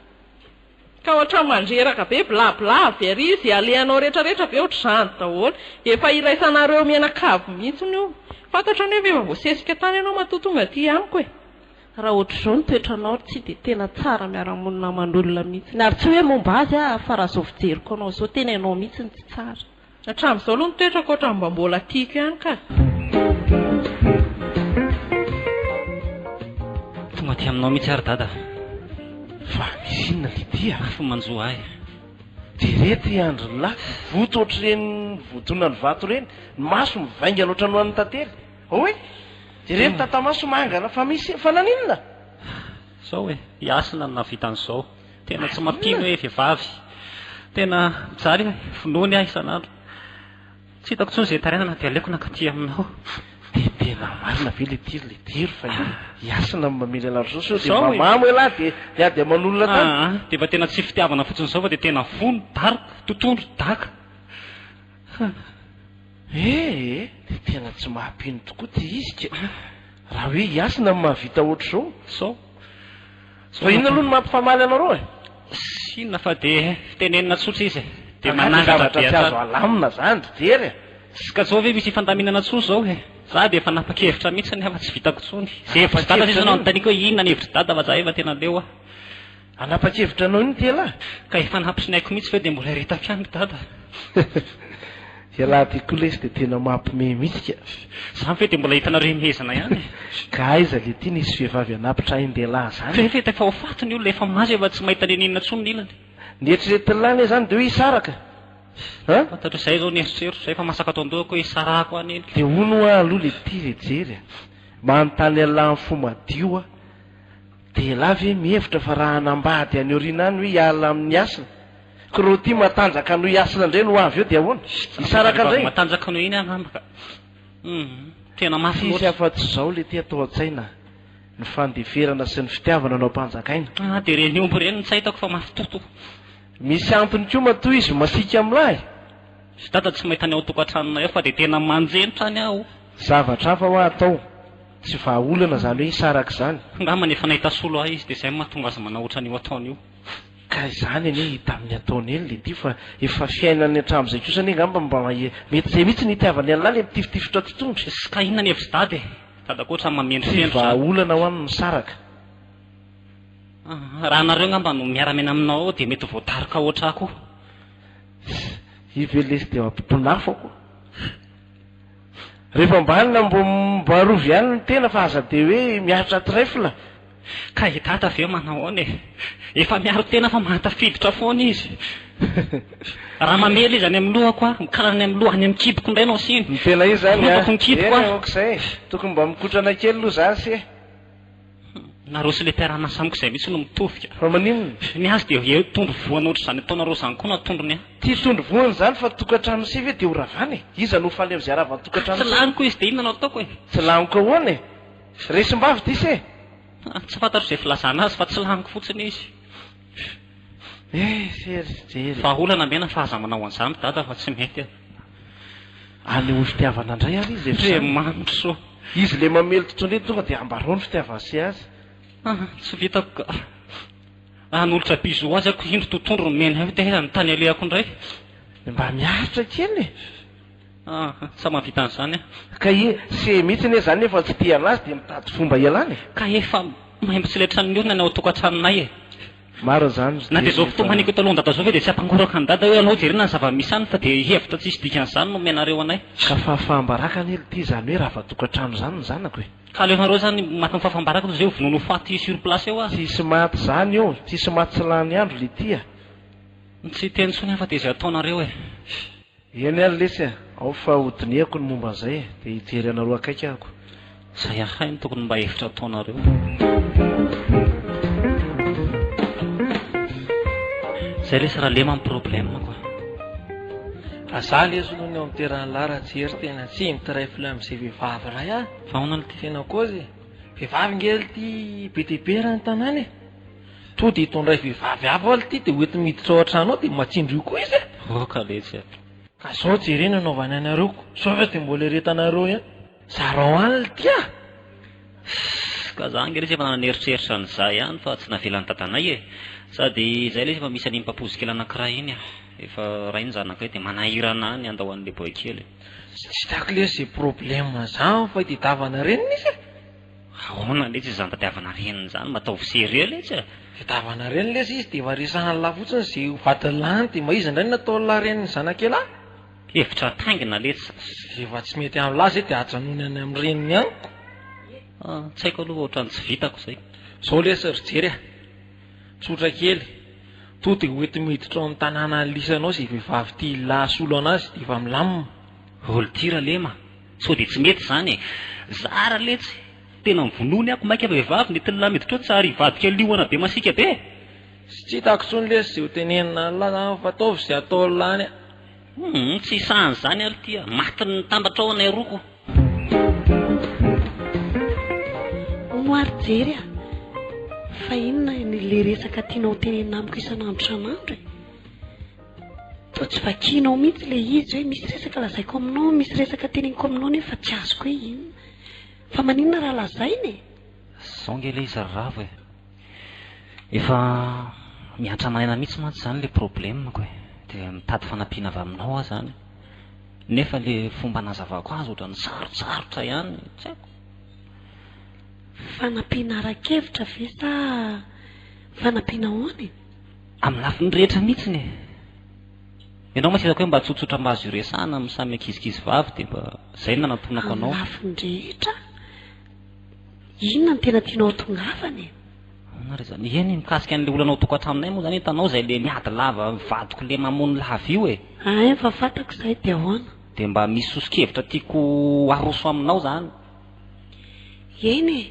Ka ohatran'ny mandreraka be bla bla avy ary izy alehanao rehetra rehetra ve ohatr'izany daholo? Efa iraisanareo mianakavy mihitsy io. Fantatrao anie ve efa voasesika tany ianao matoa tonga aty amiko e! Raha ohatr'izao ny toetranao ry tsy dia tena tsara miara-monina aman'olona mihitsy. Ary tsy hoe momba azy aho fa raha izao fijeriko anao izao tena ianao mihitsy no tsy tsara. Hatramin'izao aloha ny toetrako ohatran'ny mba mbola tiako ihany kah. Tonga aty aminao mihitsy ary dada fa. Fa misy inona Lydia? Afo manjo ahy. Jereo ity andrin'lah, voto ohatr'ireny votonan'ny vato ireny, ny masony mivaingana ohatran'ny ho an'ny tantely. Hoy ireny tatamaso mangana fa misy e! Fa naninona? Zao e! I Hasina no nahavita an'izao. Tena tsy mampino hoe vehivavy. Tena mijaly e! Vonoiny aho isan'andro. Tsy hitako intsony izay tarainana dia aleoko nankaty aminao. Dia tena marina ve ilay tiry ilay tiry fa i Hasina no mamely anareo izao sao dia mamamo ialahy dia miady aman'olona tany? Aa! Dia efa tena tsy fitiavana fotsiny izao fa dia tena vono, daroka, totohondry, daka. Hum. Ee, dia tena tsy maha-mpino tokoa ity izy ka! Raha hoe i Hasina no mahavita hoatr'izao, sao. Sao inona aloha no mampifamaly anareo e? Tsy inona fa dia fitenenina tsotra izy e! Dia manangatra be hatrany. Angaha dia zavatra tsy azo alamina izany ry Jery e! Ska zao ve misy hifandaminana intsony izao e? Za dia efa nanapa-kevitra mihitsy anie fa tsy vitako intsony. Izay hevitry Dada sisa no anontaniako hoe inona ny hevitry Dada fa za efa tena leo aho. Hanapa-kevitra anao iny ity ialahy. Ka efa nampisinhaiko mihitsy ve dia mbola hiretaka ihany ry dada a! Ialahy ity koa lesy dia tena mampime mihitsy ka! Zany ve dia mbola hitanareo himehezana ihany e! Ka aiza le ity nisy vehivavy hanapitra ain-dehilahy zany e! F'efa ho faty ny olona, efa maso efa tsy mahita n'inon'inona intsony ny ilany. Ny eritreretin'lah anie zany dia hoe hisaraka a! Fantatro izay izao ny eritreritro, izay efa masaka ato an-dohako hoe hisarahako any iny. Dia hono hoa aloha le ity ve jery a! Manontany an'lah amin'ny fo madio aho. Dia ialahy ve mihevitra fa raha hanambady any aoriana any hoe hiala amin'ny hasina? Koroty matanjaka noho i hasina indray no ho avy eo dia ahoana? Hisaraka indray? Vehivavy matanjaka noho iny angamba ka. Humm, tena mafy loatra. Tsisy afa-tsy izao ilay tia atao an-tsaina, ny fandeferana sy ny fitiavana no ampanjakaina. Ah, dia ireny omby ireny no tsy ahitako fa mafy toto. Misy antony koa matoa izy masiaka amin'lah e! Ry dada tsy mahita ny ao an-tokantranonay ao fa dia tena manjenitra any aho. Zavatra hafa hoa atao. Tsy vahaolana izany hoe hisaraka izany. Angambany efa nahita solo ahy izy dia izay no mahatonga azy manao ohatrany io ataony io. Ka izany anie hita amin'ny ataony eny le ity fa efa fiainany hatramin'izay kosa anie angamba mba mety izay mihitsy no hitiavany an'lah le mitifitifitra ato tondra. Sy ka inona ny hevitry dada e? Dada koa ohatrany mamendrofendro izany. Tsy vahaolana ho'a ny misaraka. Raha anareo angamba no miara-miaina aminao ao dia mety voadaroka ohatr'ahy koa. Ii ve lesy dia mampitonafo aho koa. Rehefa ambany na mbo mibarovy ihany ny tena fa aza dia hoe miaritra trèfle. Ka i Dada ve manao ahoana e? Efa miaro tena fa mahatafiditra foana izy. Raha mamely izy any amin'ny lohako aho, mikala any amin'ny loha, any amin'ny kiboko indray no asiany. Ny tena izy izany a! Eny e, aok'izay e! Tokony mba mikotrana kely aloha za se. Hum, nareo sy le mpiara-miasa amiko izay mihitsy no mitovy ka. Fa maninona? Ny azy dia eo tondro voany ohatra izany ataonareo izany koa na tondrony an. Tsy tondro voany izany fa tokantrano se ve dia ho ravana e? Iza no ho faly amin'izay ravan'ny tokantrano se? Tsy laniko izy dia inona no ataoko e? Tsy laniko ahoana e? Resim-bavy ty se? Ah, tsy fantatro izay filazana azy fa tsy laniko fotsiny izy. Eh, se ry jery. Vahaolana mena fa aza manao an'izany dada fa tsy mety e. Anehoy fitiavana indray ary izy efa izany. Manso. Izy ilay mamely totoindray no tonga dia ambarao ny fitiavany sy azy. Ah, tsy vitako ka. Hanolotra bisous azy ako indro totoindro nomeny ahy dia aiza ny tany alehako indray. Dia mba miaritra kely e! Ah, tsy mahavita an'izany aho. Ka ie, se mihitsy anie izany nefa tsy tia an'azy dia mitady fomba hialana e! Ka efa maimbo tsy letran'ny olona ny ao an-tokantranonay e! Marina izany ry Dé rehefa. Na dia izao fotoana haniko eto alohan dada izao ve dia tsy hampangoraka an dada hoe alao jerena ny zava misy any fa dia hihevitra tsisy dikany izany no omenareo anay. Ka fahafaham-baraka anie ry Dé izany hoe rava-tokantrano izany ny zanako e. Ka aleonareo izany maty amin'ny fahafaham-baraka toy izay ho vonoina ho faty sur place eo aza. Tsisy maty izany eo, tsisy maty tsy lany andro ry Ty a. Tsy hiteny intsony aho fa dia izay ataonareo e. Eny ary lesy a! ao fa hodinihako ny momba an'izay e! dia hijery anareo akaiky ahako. Izay ahay no tokony mba hevitra ataonareo. Zay lesy ralema ny problème quoi. Fa za lesy aloha ny ao am terrain lahy raha tsy hery tena tsy mitray flou amzay vehivavy iray ah! Fa ahoana le ty? Tena cause e! Vehivavy nge le ty be dia be eran'ny tanàna e! Toa dia hitondray vehivavy hafa ho'aho ity dia hoentiny miditra ao an-trano ao dia matsindry io koa izy e! Oh, ka letsy e! Ka izao jereo ny hanaovany anareo ko sao ve dia mbola eretanareo ihany? Zarao any l'ty a! Ss, ka za ange lesy efa naneritreritra an'izay ihany fa tsy navelan'ny dadanay e! Sady izay lesy efa misy an'iny papozy kely anankiray iny a! Efa ray ny zanakay dia manahirana ahy ny handao an'ilay boay kely e! Tsy hitako lesy izay problème zany fa i Dedava narenina izy e! Aona letsy izany tadiavana reniny izany mba ataovy sérieux letsy a! Tadiavana reniny letsy izy dia efa resahan'lah fotsiny ze ho vadin'lahiny dia mba iza indray no nataon'lah reniny zanak'elah? Hevitra ataingina letsy. Rehefa tsy mety amin'lah zay dia ajanony any amin'ny reniny any ko! Ah, tsy haiko aloha ohatrany tsy vitako zay. Zao lesy ry jery a! Tsotra kely, to dia hoenti-miditra ao amin'ny tanàna anilisany ao ze vehivavy tian'lah asolo anazy dia efa milamina. Volonty Ralema, sao dia tsy mety izany e! Zara letsy! Tena mivonoa ny ako maika vehivavy ny tl miditra ao tsy ary hivadika liona be masika be e! Tsy hitako tsony lesy zay ho tenenina anla zany fa ataovy zay atao lany a! Humm tsy hisahana izany ary ity a! Matin'ny mitambatra ao anay roa ko! Hono ary Jerry a! Fa inona ny le resaka tianao ho tenenina amiko isan'andro isan'andro e! Toa tsy vakianao mihitsy ilay izy hoe misy resaka lazaiko aminao, misy resaka teneniko aminao nefa tsy azoko hoe inona. Fa maninona raha lazaina e? Zao ange ilay izy ry Ravo e! Efa miantrana aina mihitsy mantsy izany ilay problemako e! Dia mitady fanampiana avy aminao aho izany. Nefa ilay fomba anazavako azy ohatran'ny sarotsarotra ihany, tsy haiko. Fanampiana ara-kevitra ve sa fanampiana ahoana e? Amin'ny lafiny rehetra mihitsiny e! Ianao mantsy hitako hoe mba tsotsotra mba azo iresahana amin'ny samy ankizikizy vavy dia mba izay no nanantonako anao. Amin'ny lafiny rehetra? Inona no tena tianao hatongavana e? Ahoana re izany? Eny, mikasika an'ilay olana ao tokantranonay moa izany hitanao izay ilay miady lava amin'ny vadiko ilay mamony lava io e! Ahay efa fantako izay, dia ahoana? Dia mba misy soso-kevitra tiako haroso aminao izany. Eny e!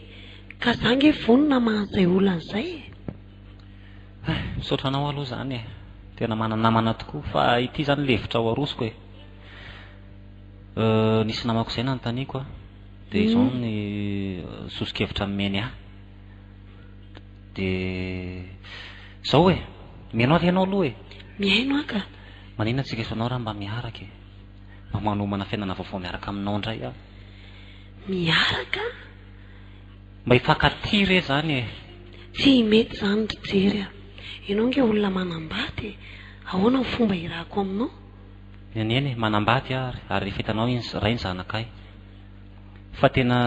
Ka izaho ange vonona maha an'izay olona an'izay e! Hay, misaotra anao aloha izany e. Tena manana namana tokoa. Fa ity izany lefitra ho arosoko e. Nisy namako izay nanontaniako an, dia izao ny soso-kevitra nomeny ahy. Dia izao e, mihaino ahy ve ianao aloha e? Mihaino aho ka. Maninona tsy resanao raha mba miaraka e? Mba manomana fiainana vaovao miaraka aminao indray aho. Miaraka? Mba hifankatia re zany e! Tsy mety izany ry Jery a! Ianao ange olona manambady e! Ahoana ny fomba hirahako aminao? Nenene e! Manambady aho ary, ary rehefa hitanao iny ray ny zanakay fa tena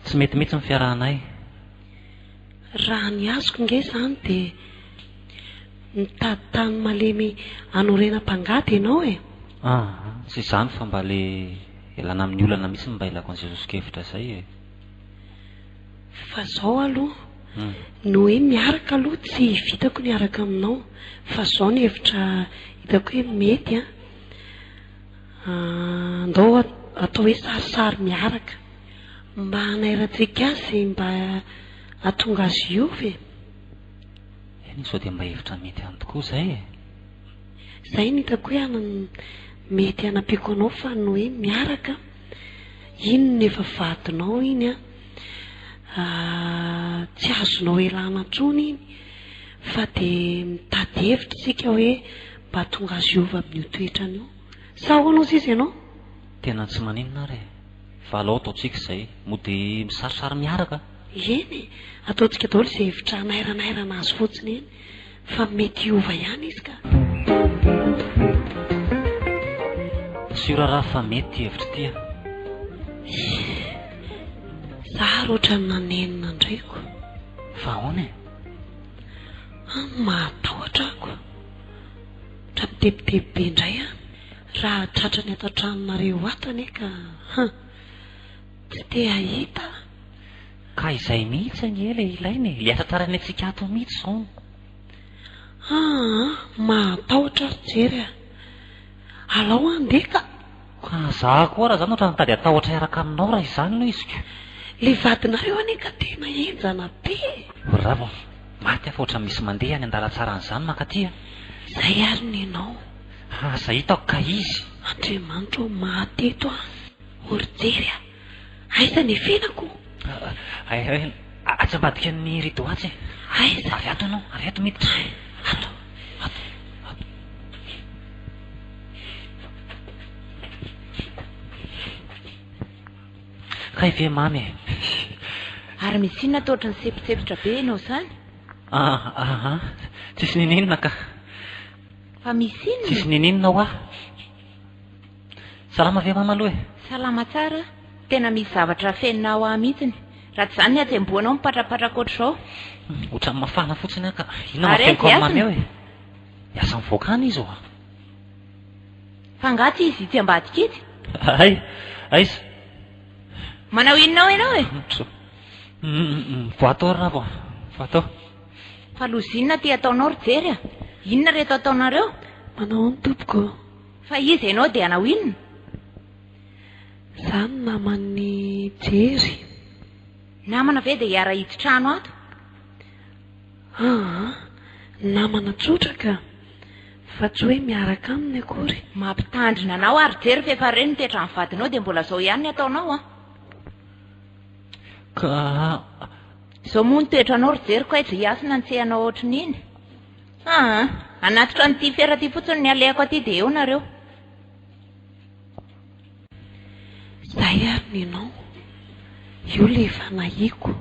tsy mety mihitsy ny fiarahanay. Raha ny azoko ange izany dia mitady tany malemy hanorenam-pangady ianao e! Aa! Tsy izany fa mba le ialana amin'ny olana mihitsy no mba ilako an'izay sosokevitra izay e! Fa zao aloha ny hoe miaraka aloha tsy vitako ny hiaraka aminao fa zao ny hevitra hitako hoe mety an, andao atao hoe sarisary miaraka mba hanairantsika azy e, mba hahatonga azy hiova e. Eny sao dia mba hevitra mety ihany tokoa izay e. Izay no hitako hoe mety hanampiako anao fa ny hoe miaraka an. Inona efa vadinao iny an! Tsy azonao ialana intsony iny fa dia mitady hevitra isika hoe mba hahatonga azy hiova amin'io toetrany io. Sa ahoana hozy izy ianao? Tena tsy maninona ary e! Fa alao ataontsika izay. Mody misarisary miaraka a! Eny e! Ataontsika daholo izay hevitra hanairanhairana azy fotsiny eny. fa mety hiova ihany izy ka. Sur raha fa mety ty hevitry ty an. Za ary ohatran'ny nanenina an-dreko. Fa ahoana e? An, mahatahotra ahy ko. Tra mitebiteby be indray aho raha tratrany ato an-tranonareo ato anie ka han, tsy te hahita aho. Ka izay mihitsy anie le ilaina e, le asa tsara ny antsika ato mihitsy zao no. Aa mahatahotra ry jery a! Alao andeha ka! Ka za koa raha zany otrany mitady atahotra hiaraka aminao raha izany no izy ko! Le vadinareo anie ka tena henjana be e! Ry rava a! Maty aho fa otrany misy mandeha any an-dalatsaran zany mankaty a! Zay ary ny anao! Asa hitako ka izy! Andriamanitra o! Maty eto aho o ry jery a! Aiza ny fenako? Atsy ambadika ny rideau atsy e. Aiza? Avy ato ianao, avy ato miditra. Ato, ato, ato. Kay ve mamy e. Ary misy inona ato ohatran'ny sepitsepitra be ianao izany? Ah, ah, ah. Tsisy nininona ka. Fa misy inona? Tsisy nininona hoa. Salama ve mama aloha e. Salama tsara, tena misy zavatra afenina ao ahy mihitsiny, raha tsy izany ny hatsembohanao mipatrapatraka ohatr'izao. Ohatran'ny mafana fotsiny aho ka. Inona no Ary afeniko aiza amin'ny mamy eo e. Niasa mivoaka any izy oa. Fa angaha tsy izy itsy ambadika itsy? Hay, aiza? Manao inona ao ianao e? Tso. Mivoatao ry rava, mivoatao. Fa loza inona ity ataonao ry Jery a? Inona ireto ataonareo? Manao ahoana tompoko? Fa izy enao dia hanao inona? Za no naman'i Jerry. Namana ve dia hiara hidin-trano ato? Aa, namana tsotra ka. Fa tsy hoe miaraka aminy akory. Mampitandrina anao aho ry Jerry f'efa re ny toetran'ny vadinao dia mbola zao ihany ny ataonao an! Ka. Zao moa ny toetranao ry Jerry kay, zay hiasina ny tsy hay hanao ohatrin'iny. Aa! Hanatitra an'ity fiara ity fotsiny ny alehako aty dia eo nareo. Zay ary ny nom. Io le efa nahiko.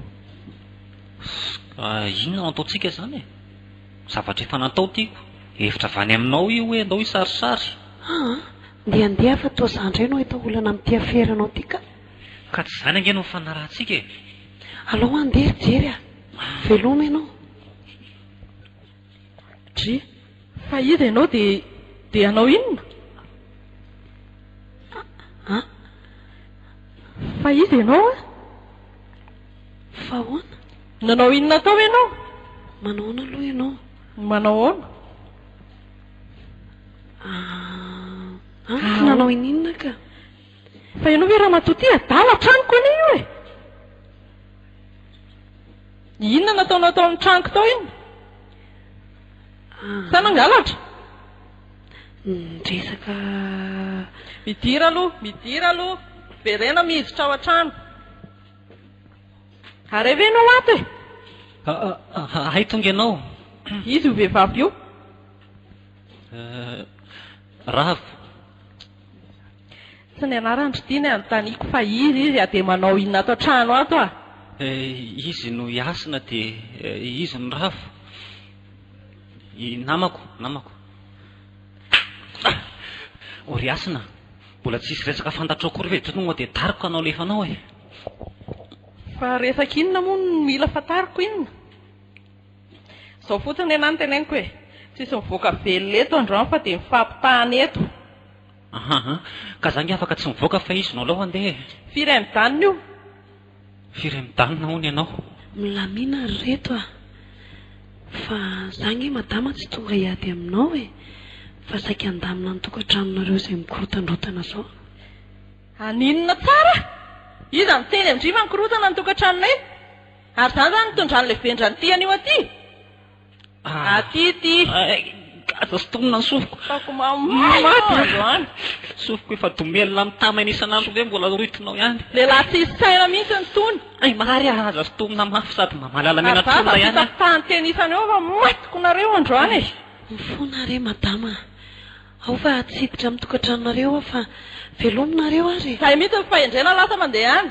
Ss, inona no ataontsika izany e? Zavatra efa natao tiako. Hevitra avy any aminao io hoe andao hisarisary. Aa! Ndeha ndeha fa toa za indray no hahita olana amin'ity afera anao ity ka. Ka tsy izany ange no nifanarahantsika e! Alao handeha ry Jerry a! Veloma ianao. G, Fa iza ianao dia dia hanao inona? A, Fa iza ianao a? Fa ahoana? Nanao inona tao ianao? Manao ahoana aloha ianao? Manao ahoana? A, Tsy nanao ininona ka. Fa ianao ve ramatoa ty adala an-tranoko anie io e! Inona nataonao tao amin'ny tranoko tao iny? Sa nangalatra? Niresaka... Midira aloha, midira aloha. Verena miditra ao an-trano. Ary hay ve ianao ato e? Hay tonga ianao. Izy io vehivavy io. Ravo. Tsy ny anarany ry ty ny anontaniako fa iza izy a? Dia manao inona ato an-trano ato a? Izy no hasina dia izy no rava. I namako, namako. Oh ry hasina, mbola tsisy resaka fantatrao akory ve? Tonga dia tariko ka nalefa anao e! Fa resaka inona moa no mila fantariko inona? Izao fotsiny anie ny teneniko e! Tsisy mivoaka velona eto androany fa dia mifampitana eto. Ahaa, ka za nge afaka tsy mivoaka fa izy no alou andeha e! Firy mijanona io? Firy mijanona hono ianao? Milamina ry reto a! Fa za nge madama tsy tonga hiady aminao e! Fa saika handamina ny tokantranonareo izay mikorotandrotana zao. Haninona tsara? Iza miteny an-dry fa mikorotana ny tokantranonay? Ary zany zany mitondra an'ilay vendran'ny tiany io aty? Aty ity. Gaga sintonina ny sofiko. Fako mamono androany. Sofiko efa domelina mitamaina isan'andro ve mbola rohitinao ihany. Lehilahy tsisy saina mihitsy ny tony. Ay marary ah aza sintomina mafy sady mba mahalala menatolona ihany ah. Vava vita fitahan-teny isan'ny hoe fa matiko nareo androany e. Mifona re madama a! Ao fa tsy hiditra amin'ny tokantranonareo aho fa veloma nareo ary e. Zay mihitsy ny fahendrena lasa mandeha any.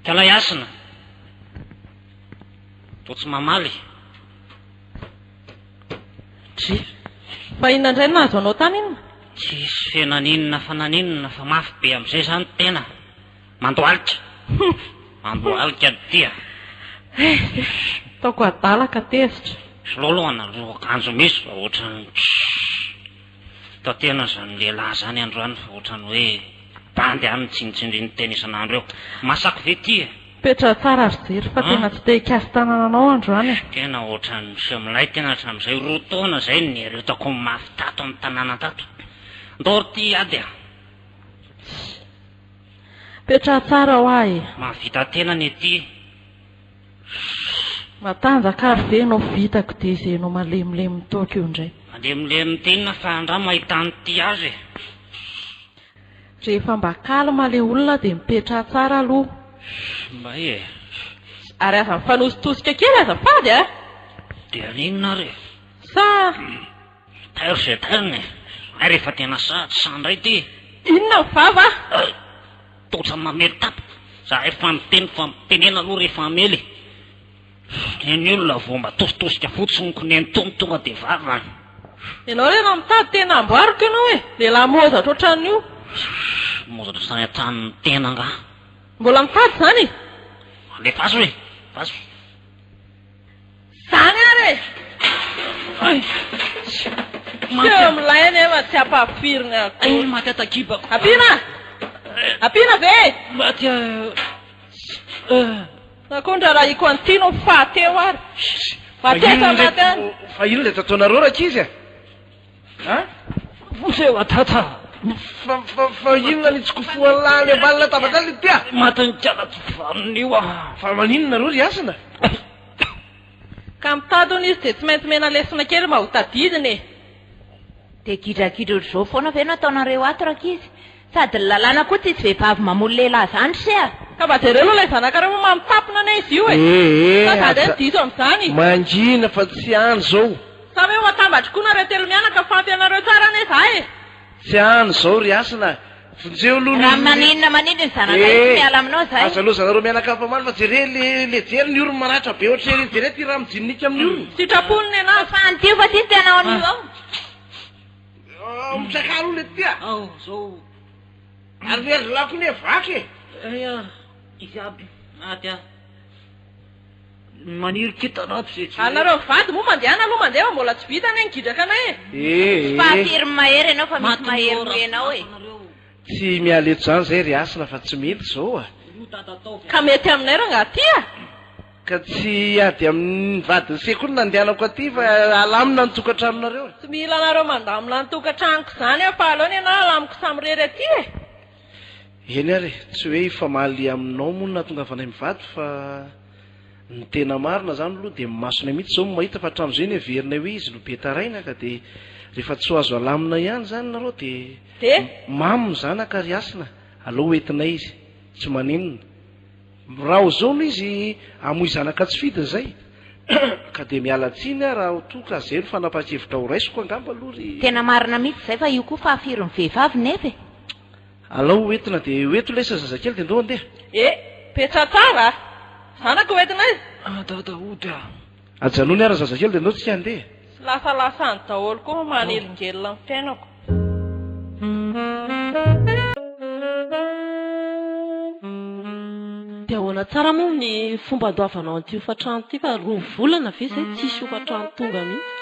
Mpialay hasina, toa tsy mamaly. Juif, fa inona indray no nahazo anao tany inona? Juif, he naninona fa naninona fa mafy be amin'izay izany tena. Mandohalika. Hum. Mandohalika ny tia. He, juif, ataoko adala ka tezitra. Sololo, anareo akanjo misy fa ohatran'ny. Tantehana zany lehilahy zany androany fa otrany hoe bandy any tsindritsindriny tena isan'andro eo. Masako ve ty e? Petraho tsara ry Jiro fa tena tsy te hikasy tanana anao androany e! Tena otrany miseho milay tena hatramin'izay roa taona zay ny niaretako ny mafy tato amin'ny tanàna tato. Ndao ry ty ady a! Petraho tsara hoa e! Mahavita tena anie ty! Matanjaka ary ve enao vitako dia izay enao malemilemy toaka eo indray. Malemilemy t'inona fa andramo mahita ny tia azy e. Rehefa mba calme le olona dia mipetraha tsara aloha. May e. Ary aza mifanositosika kely azafady a! Dia an'inona ary e. Sa. Peter se Pen e! Hay rehefa tena sahy tsy sahy indray ity! Inona ny vava? Hay! Tojo mamely tapp! Za efa niteny fa mitenena aloha rehefa hamely e! Ny olona vao mba tositosika fotsiny ko nenitony tonga dia vava an! Ianao re raha mitady tena hamboariko ianao e! Lehilahy mozatra ohatran'io! Mozatra sahy an-tany ny tena angaha? Mbola mitady izany e! Alefaso e! Vazo e! Zany ary e! Hay! Teo milay anefa tsy ampahafirin'ny akory. Ay, maty atakibako. Ampiana? Ampiana ve? Maty Na koa ny raharahiko an'ity no fahateo ary. Maty aza, maty aza. Fa inona ilay tataonareo rankizy e? Moseo atata! Fa inona ny tsikofohan'ny lahy any ambany latabatra any ity ah? Matin'ny kalatsivanona io ah! Fa maninona nareo ry hasina? Ka mitady hono izy dia tsy maintsy omena lesona kely mba ho tadidiny e! Dia gidragidra ohatr'izao foana ve no ataonareo ato rankizy? Sady ny lalàna koa tsisy vehivavy mamono lehilahy zany se a! Ka mba jereo aloha ilay zanakareo moa mamitapona anie izy io e! Sa za indray no diso amin'izany? Mangina fa tsy any zao. Sa ve ho atambatry koa nareo telo mianaka fampy anareo tsara anie za e! Tsy any zao ry hasina a! Vonjeo aloha ny. Raha maninona maninona ny zanakay tsy miala aminao zay. Aza loza nareo mianaka ampy mamaly fa jere le le jery ny orony maratra be ohatry ery jere ty ra mijininnika amin'ny orony. Sitrapony ny ananjy. Fa any ty fa ty ny tianao anio ao. Mitsaka aloha le tia. Ao zao. Ary le ry lahy koa ne vaky e. Aya izy aby maty a. Maniry kintana aby ze tsy. Anareo mivady moa mandehana aloha mandeha fa mbola tsy vita anie ny gidraka anay e. Tsy mpahafirm mahery ianao fa misy mahery noho ianao e. Tsy miala eto zany zay ry hasina fa tsy mety zao a. Ka mety aminay rangah tia? Ka tsy hiady amin'ny vadin'ny sekoly nandehanako aty fa halamina ny tokantranonareo e! Tsy mila anareo mandamina ny tokantranoko izany aho fa aleo ny anà halamiko samirery aty e! Eny ary e, tsy hoe hifamaly aminao moa no nahatongavanay mivady fa ny tena marina izany aloha dia ny masonay mihitsy izao no mahita fa hatramin'izay ny heverinay hoe izy no be taraina ka dia rehefa tsy ho azo halamina ihany izany nareo dia mamy ny zanaka ary hasina aleo hoentinay izy tsy maninona Mirao zao no izy hamoy zanaka tsy fidiny izay ka dia miala tsiny aho raha toa ka zay no fanapakevitra ho raisiko angamba aloha ry. Tena marina mitsy zay fa io koa fahafirin'ny vehivavy nefa e! Alao ho entina dia ho eto lesy zazakely dia ndao andeha. Eh! Petra tsara a! Zanaka ho entina e! Adada hody a! Ajanony ara zazakely de ndao tsika handeha. Tsy lasalasa any daholo koa fa manelingelina ny fiainako. Dia ahoana tsara moa ny fomba andoavanao an'ity hofantrano ity fa roa volana ve izay tsisy hofantrano tonga mihitsy.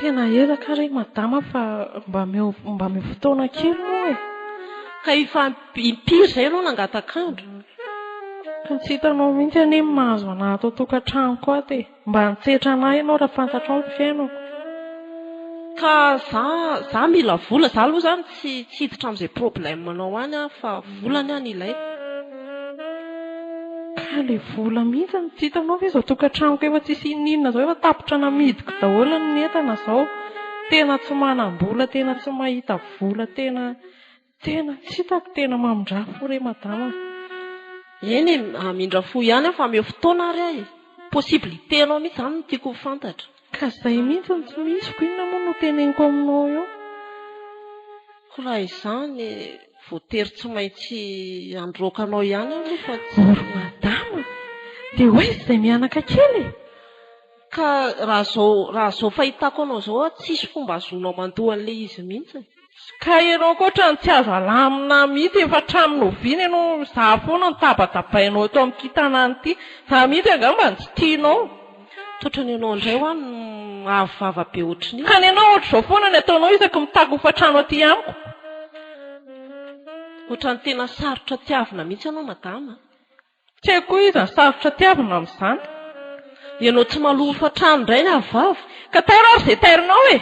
Tena ela kah re madama fa mba omeo fotoana kely moa e. Ka hifantohana. Impiry izay ianao nangatak'andro? Tokony tsy hitanao mihitsy anie ny mahazo anà ato an-tokantranoko ato e! Mba antsetra anà ianao raha fantatrao ny fiainako. Ka izaho, izaho mila vola, izaho aloha izany tsy tsy hiditra amin'izay problème-nao any aho fa vola anie no ilaina. Ka ilay vola mihitsy no tsy hitanao ve izao tokantranoko efa tsisy inon'inona izao efa tapitra namidiko daholo ny entana izao. Tena tsy manam-bola, tena tsy mahita vola, tena. Tena tsy hitako tena mamindrà fo re madama a! Eny e, hamindra fo ihany aho fa ameo fotoana ary aho e! Possibilité anao mihitsy izany no tiako ho fantatra. Ka izay mihitsy no tsy misy, koa inona moa no hoteneniko aminao eo? Koa raha izany, voatery tsy maintsy handroaka anao ihany aho aloha fa tsy. Oh ry madama a! Dia ho aiza izay mihanaka kely e? Ka raha izao, raha izao fahitako anao izao a, tsisy fomba ahazoanao mandoa an'ilay izy mihitsy. Ka ianao ankoatrany tsy azo alamina mihitsy efa hatramin'ny oviana ianao no za foana no tabatabainao eto amin'ity tanàna ity. Za mihitsy angaha mba tsy tianao. Tsotra ny anao indray hoa no avo vava be ohatrin'io. Ka ny anao ohatr'izao foana ny ataonao isaky ny mitaky hofantrano aty amiko. Ohatran'ny tena sarotra tiavina mihitsy ianao madama a. Tsy haiko koa iza sarotra tiavina amin'izany. Ianao tsy maloha hofantrano indray ny ahavavy ka tairo ary izay taironao e!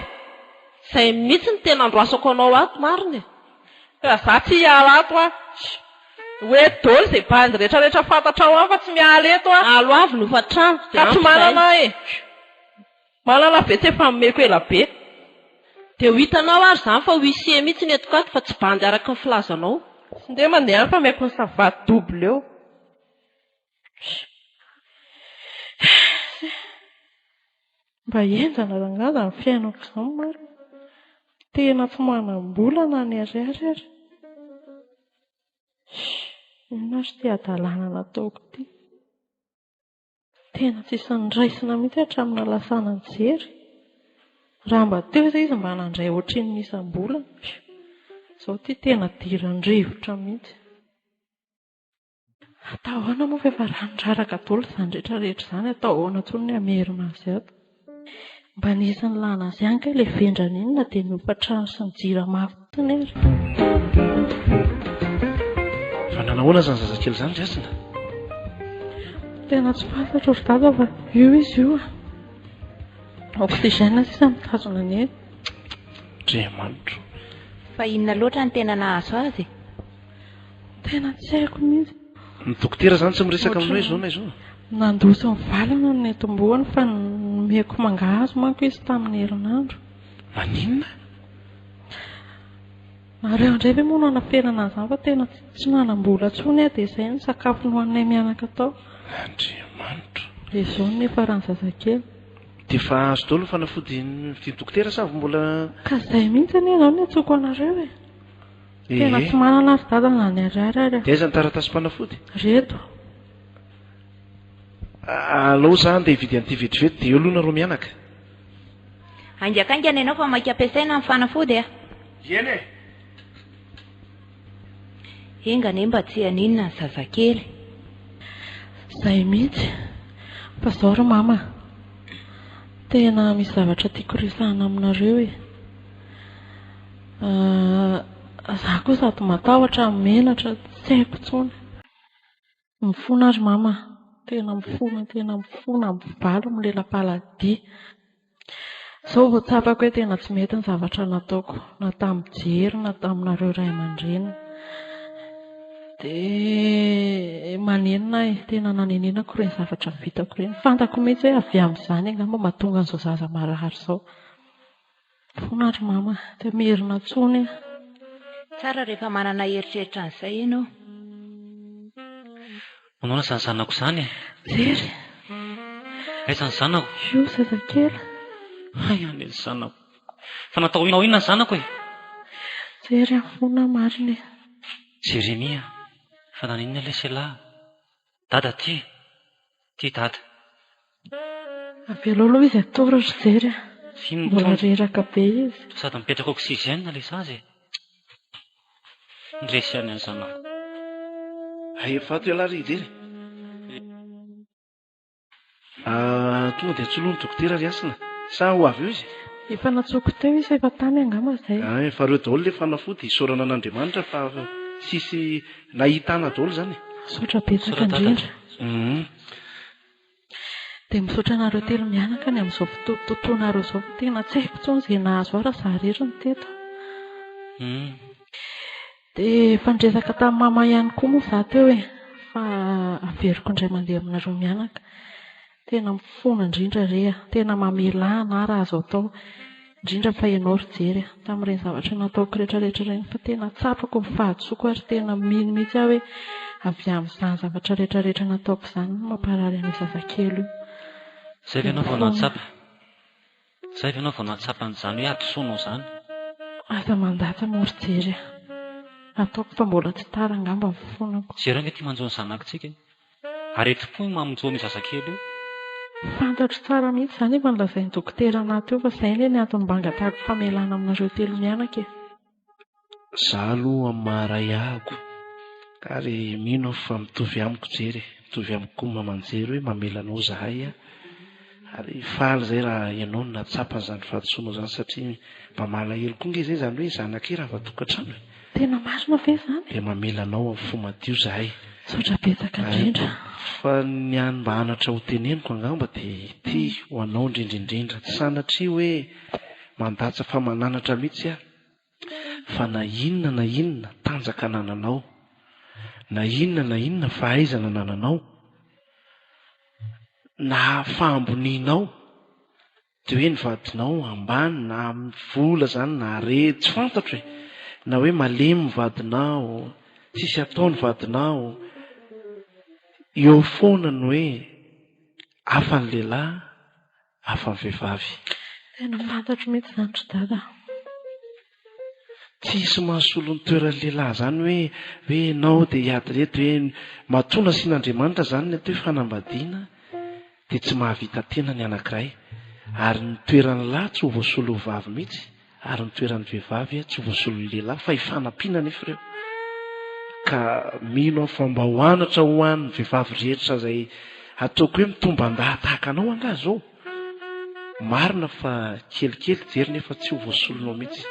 Izay mihitsy no tena andrasako anao ato marina e! Ka za tsy hiala ato aho. Hoe dolo izay bandy rehetra rehetra fantatrao aho fa tsy miala eto aho. Alo avy ny hofantrano dia ampy izay. Ka tsy manana aho e! Malala ve tsy efa nomeko ela be. Dia ho hitanao ary izany fa huissier mihitsy ny eto kato fa tsy bandy araka ny filazanao. Tsy ndeha mandeha any fa ameko ny savaty double eo. Mba henjana rangahy izany fiainako izany marina. Tena tsy manam-bola na ny ariary ary. Inona ary ity hadalana nataoko ity. Tena tsisy niraisina mihitsy hatramin'ny nahalasana nijery. Raha mba teo izay izy mba nandray ohatrin'ny ny isam-bolana. Izao ity tena diran-drivotra mihitsy. Atao ahoana moa fa efa ranoraraka daholo izany rehetra izany, atao ahoana intsony ny hamerina azy ato. Mba nisy nilana azy ihany kay ilay vendrana iny na dia ny hofa-trano sy ny jirama fotsiny ary. Fa nanao ahoana izany zazakely izany ry Hasina? Tena tsy fantatro ry dada fa io izy io an. Oxygène sisa mitazona ny ainy. Andriamanitro. Fa inona loatra no tena nahazo azy e? Tena tsy haiko mihitsy. Ny dokotera izany tsy miresaka amin'ny hoe izao na izao. Nandosy ny valiny ny netim-bohony fa nomeko mangahazo manko izy tamin'ny herinandro. Naninona? Nareo indray ve moa no hanaferana an'izany fa tena tsy manam-bola intsony aho dia izay no sakafo nohaninay mianaka tao. Andriamanitra. Dia izao no niafaran'ny zazakely. Dia efa azo daholo ny fanafody novidin'ny dokotera sa avy mbola. Ka izay mihitsy anie izao no niantsoako anareo e. Tena tsy manana ry dada na ny ariary ary a. Dia aiza ny taratasim-panafody? Reto. Alao za handeha hividy an'ity vetivety dia eo aloha nareo mianaka. Haingankaingana ianao fa maika ampiasaina ny fanafody a! Dieny e! Enga anie mba tsy haninona ny zazakely. Zay mihitsy. Fa zao ry mama a. Tena misy zavatra tiako resahana aminareo e. Ahh za koa sady matahotra no menatra tsy haiko intsony. Mifona ary mama a. Tena mifona tena mifona mpivaly milelampaladia. Izao vao tsapako hoe tena tsy mety ny zavatra nataoko na tamin'i Jery na taminareo ray aman-dreniny. Dia manenina ahy tena nanenenako ireny zavatra vitako ireny. Fantako mihitsy hoe avy amin'izany angamba mahatonga an'izao zaza marary izao. Fona ry mama de merina tsony ah. Tsara rehefa manana eritreritra an'izay ianao. Manaona izany zanako izany e. Very. Aiza ny zanako? Io zazakely. Hay any ny zanako. Fa natao inona inona ny zanako e. Jery ah, fona marina e. Jeremia, fa naninona ilay Selah? Dada ty. Ty dada. Avelao aloha izy atoro ry jery a. Vino Mbola tony. reraka be izy. Toa sady mipetraka oxygène ilay zaza e. Miresy ihany aza anao. Hay efa ato ialahy ry jery e. Ah, tonga dia tsy lony dokotera ry Hasina? Sa ho avy eo izy? Efa natsoiko teo izy efa tany angamba izay. Ah, efa reo daholo le fanafody, isaorana an'Andriamanitra fa tsisy nahitana daholo izany e. Misaotra betsaka indrindra. Hum. Dia misaotra anareo telo mianaka ny amin'izao fotoanareo izao fa tena tsy haiko intsony izay nahazo ahy raha zah irery no teto. Hum. Dia efa niresaka tamin'i Mama ihany koa moa izaho teo e, fa averiko indray mandeha aminareo mianaka. Tena mifona indrindra re a! Tena mamelà ana raha azo atao, indrindra fa ianao ry Jery a! Tamin'ireny zavatra nataoko rehetrarehetra ireny fa tena tsapako ny fahadisoako ary tena mino mihitsy aho hoe avy amin'izany zavatra rehetrarehetra nataoko izany no mamparary an'io zazakely io. Izay ve no vao nahatsapa? Zay ve enao vao nahatsapa an'izany hoe hadisoanao izany? Aza mandatsa mor jery a! Ataoko fa mbola tsy tara angamba ny fonako. Jereo ange ty manjo ny zanakitsika e! Aretim-po io mamonjy ony zazakely io. Fantatro tsara mihitsy izany efa nolazain'ny dokotera anaty io fa izay anie ny antony banga tahako famelana aminareo telo mianaka e! Za aloha amin'ny maha ray ahako ary mino aho fa mitovy amiko jery e, mitovy amiko koa ny mamanjery hoe mamela anao zahay a, ary faly zay raha ianao no nahatsapa an'izany fahadisoanao izany satria mba malahelo koa nge zay izany hoe zanaka e rava tokantrano e. Tena marina ve izany? Dia mamela anao amin'ny fo madio zahay. Misaotra betsaka indrindra. Fa ny an mba anatra ho teneniko angamba dia ity ho anao indrindra indrindra, tsy sanatria hoe mandatsa fa mananatra mihitsy aho, fa na inona na inona tanjaka anananao, na inona na inona fahaizana anananao, na fahambonianao, dia hoe ny vadinao ambany na amin'ny vola izany na harena, tsy fantatro e, na hoe malemy ny vadinao, tsisy atao ny vadinao, eo foana ny hoe hafa ny lehilahy, hafa vehivavy. Tena fantatro mihitsy izany ry dada. Tsy hisy mahasolo ny toeran'ny lehilahy izany hoe hoe ianao dia hiady ireto hoe matoa nasian'Andriamanitra izany ny atao hoe fanambadiana dia tsy mahavita tena ny anankiray ary ny toeran'ny lahy tsy ho voasolo ho vavy mihitsy. Ary ny toeran'ny vehivavy tsy voasolon'ny lehilahy fa hifanampiana anefa ireo. Ka mino aho fa mba ho anatra ho an'ny vehivavy rehetra izay ataoko hoe mitomban-dahy tahaka anao angaha izao. Marina fa kelikely jery nefa tsy ho voasolonao mihitsy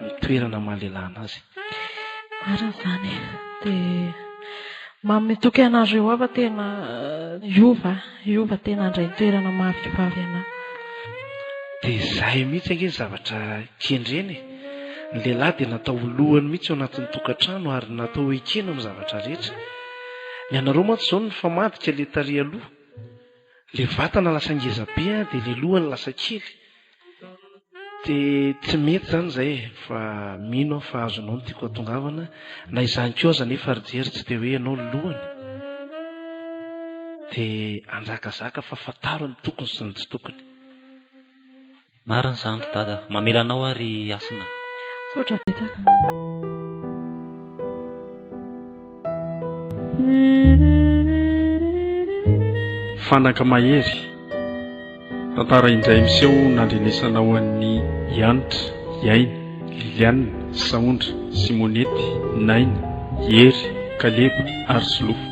ny toerana maha lehilahy anazy. Marina izany e. Dia manome toky anareo ao fa tena hiova, hiova tena handray toerana mafy ho avy anà. Dia izay mihitsy ange ny zavatra kendrena e. Ny lehilahy dia natao ho lohany mihitsy ao anatin'ny tokantrano ary natao ho ekena amin'ny zavatra rehetra. Ny anareo mantsy izao no mifamadika ilay tarehy aloha. Ilay vatana lasa ngeza be dia ilay loha no lasa kely. Dia tsy mety izany izay e! Fa mino aho fa azonao ny tiako atongavana, na izany koa aza anefa ry jery tsy dia hoe ianao no lohany. Dia hanjakazaka fa fantaro ny tokony sy ny tsy tokony. Marina izany ry dada. Mamela anao aho ry Hasina. Misaotra betsaka. Fanaka mahery. Tantara indray miseho nandrenesana ho an'ny Hanitra, Iaina, Liliane, Saondra, Simonette, Naina, Hery, Kaleba ary Solofo.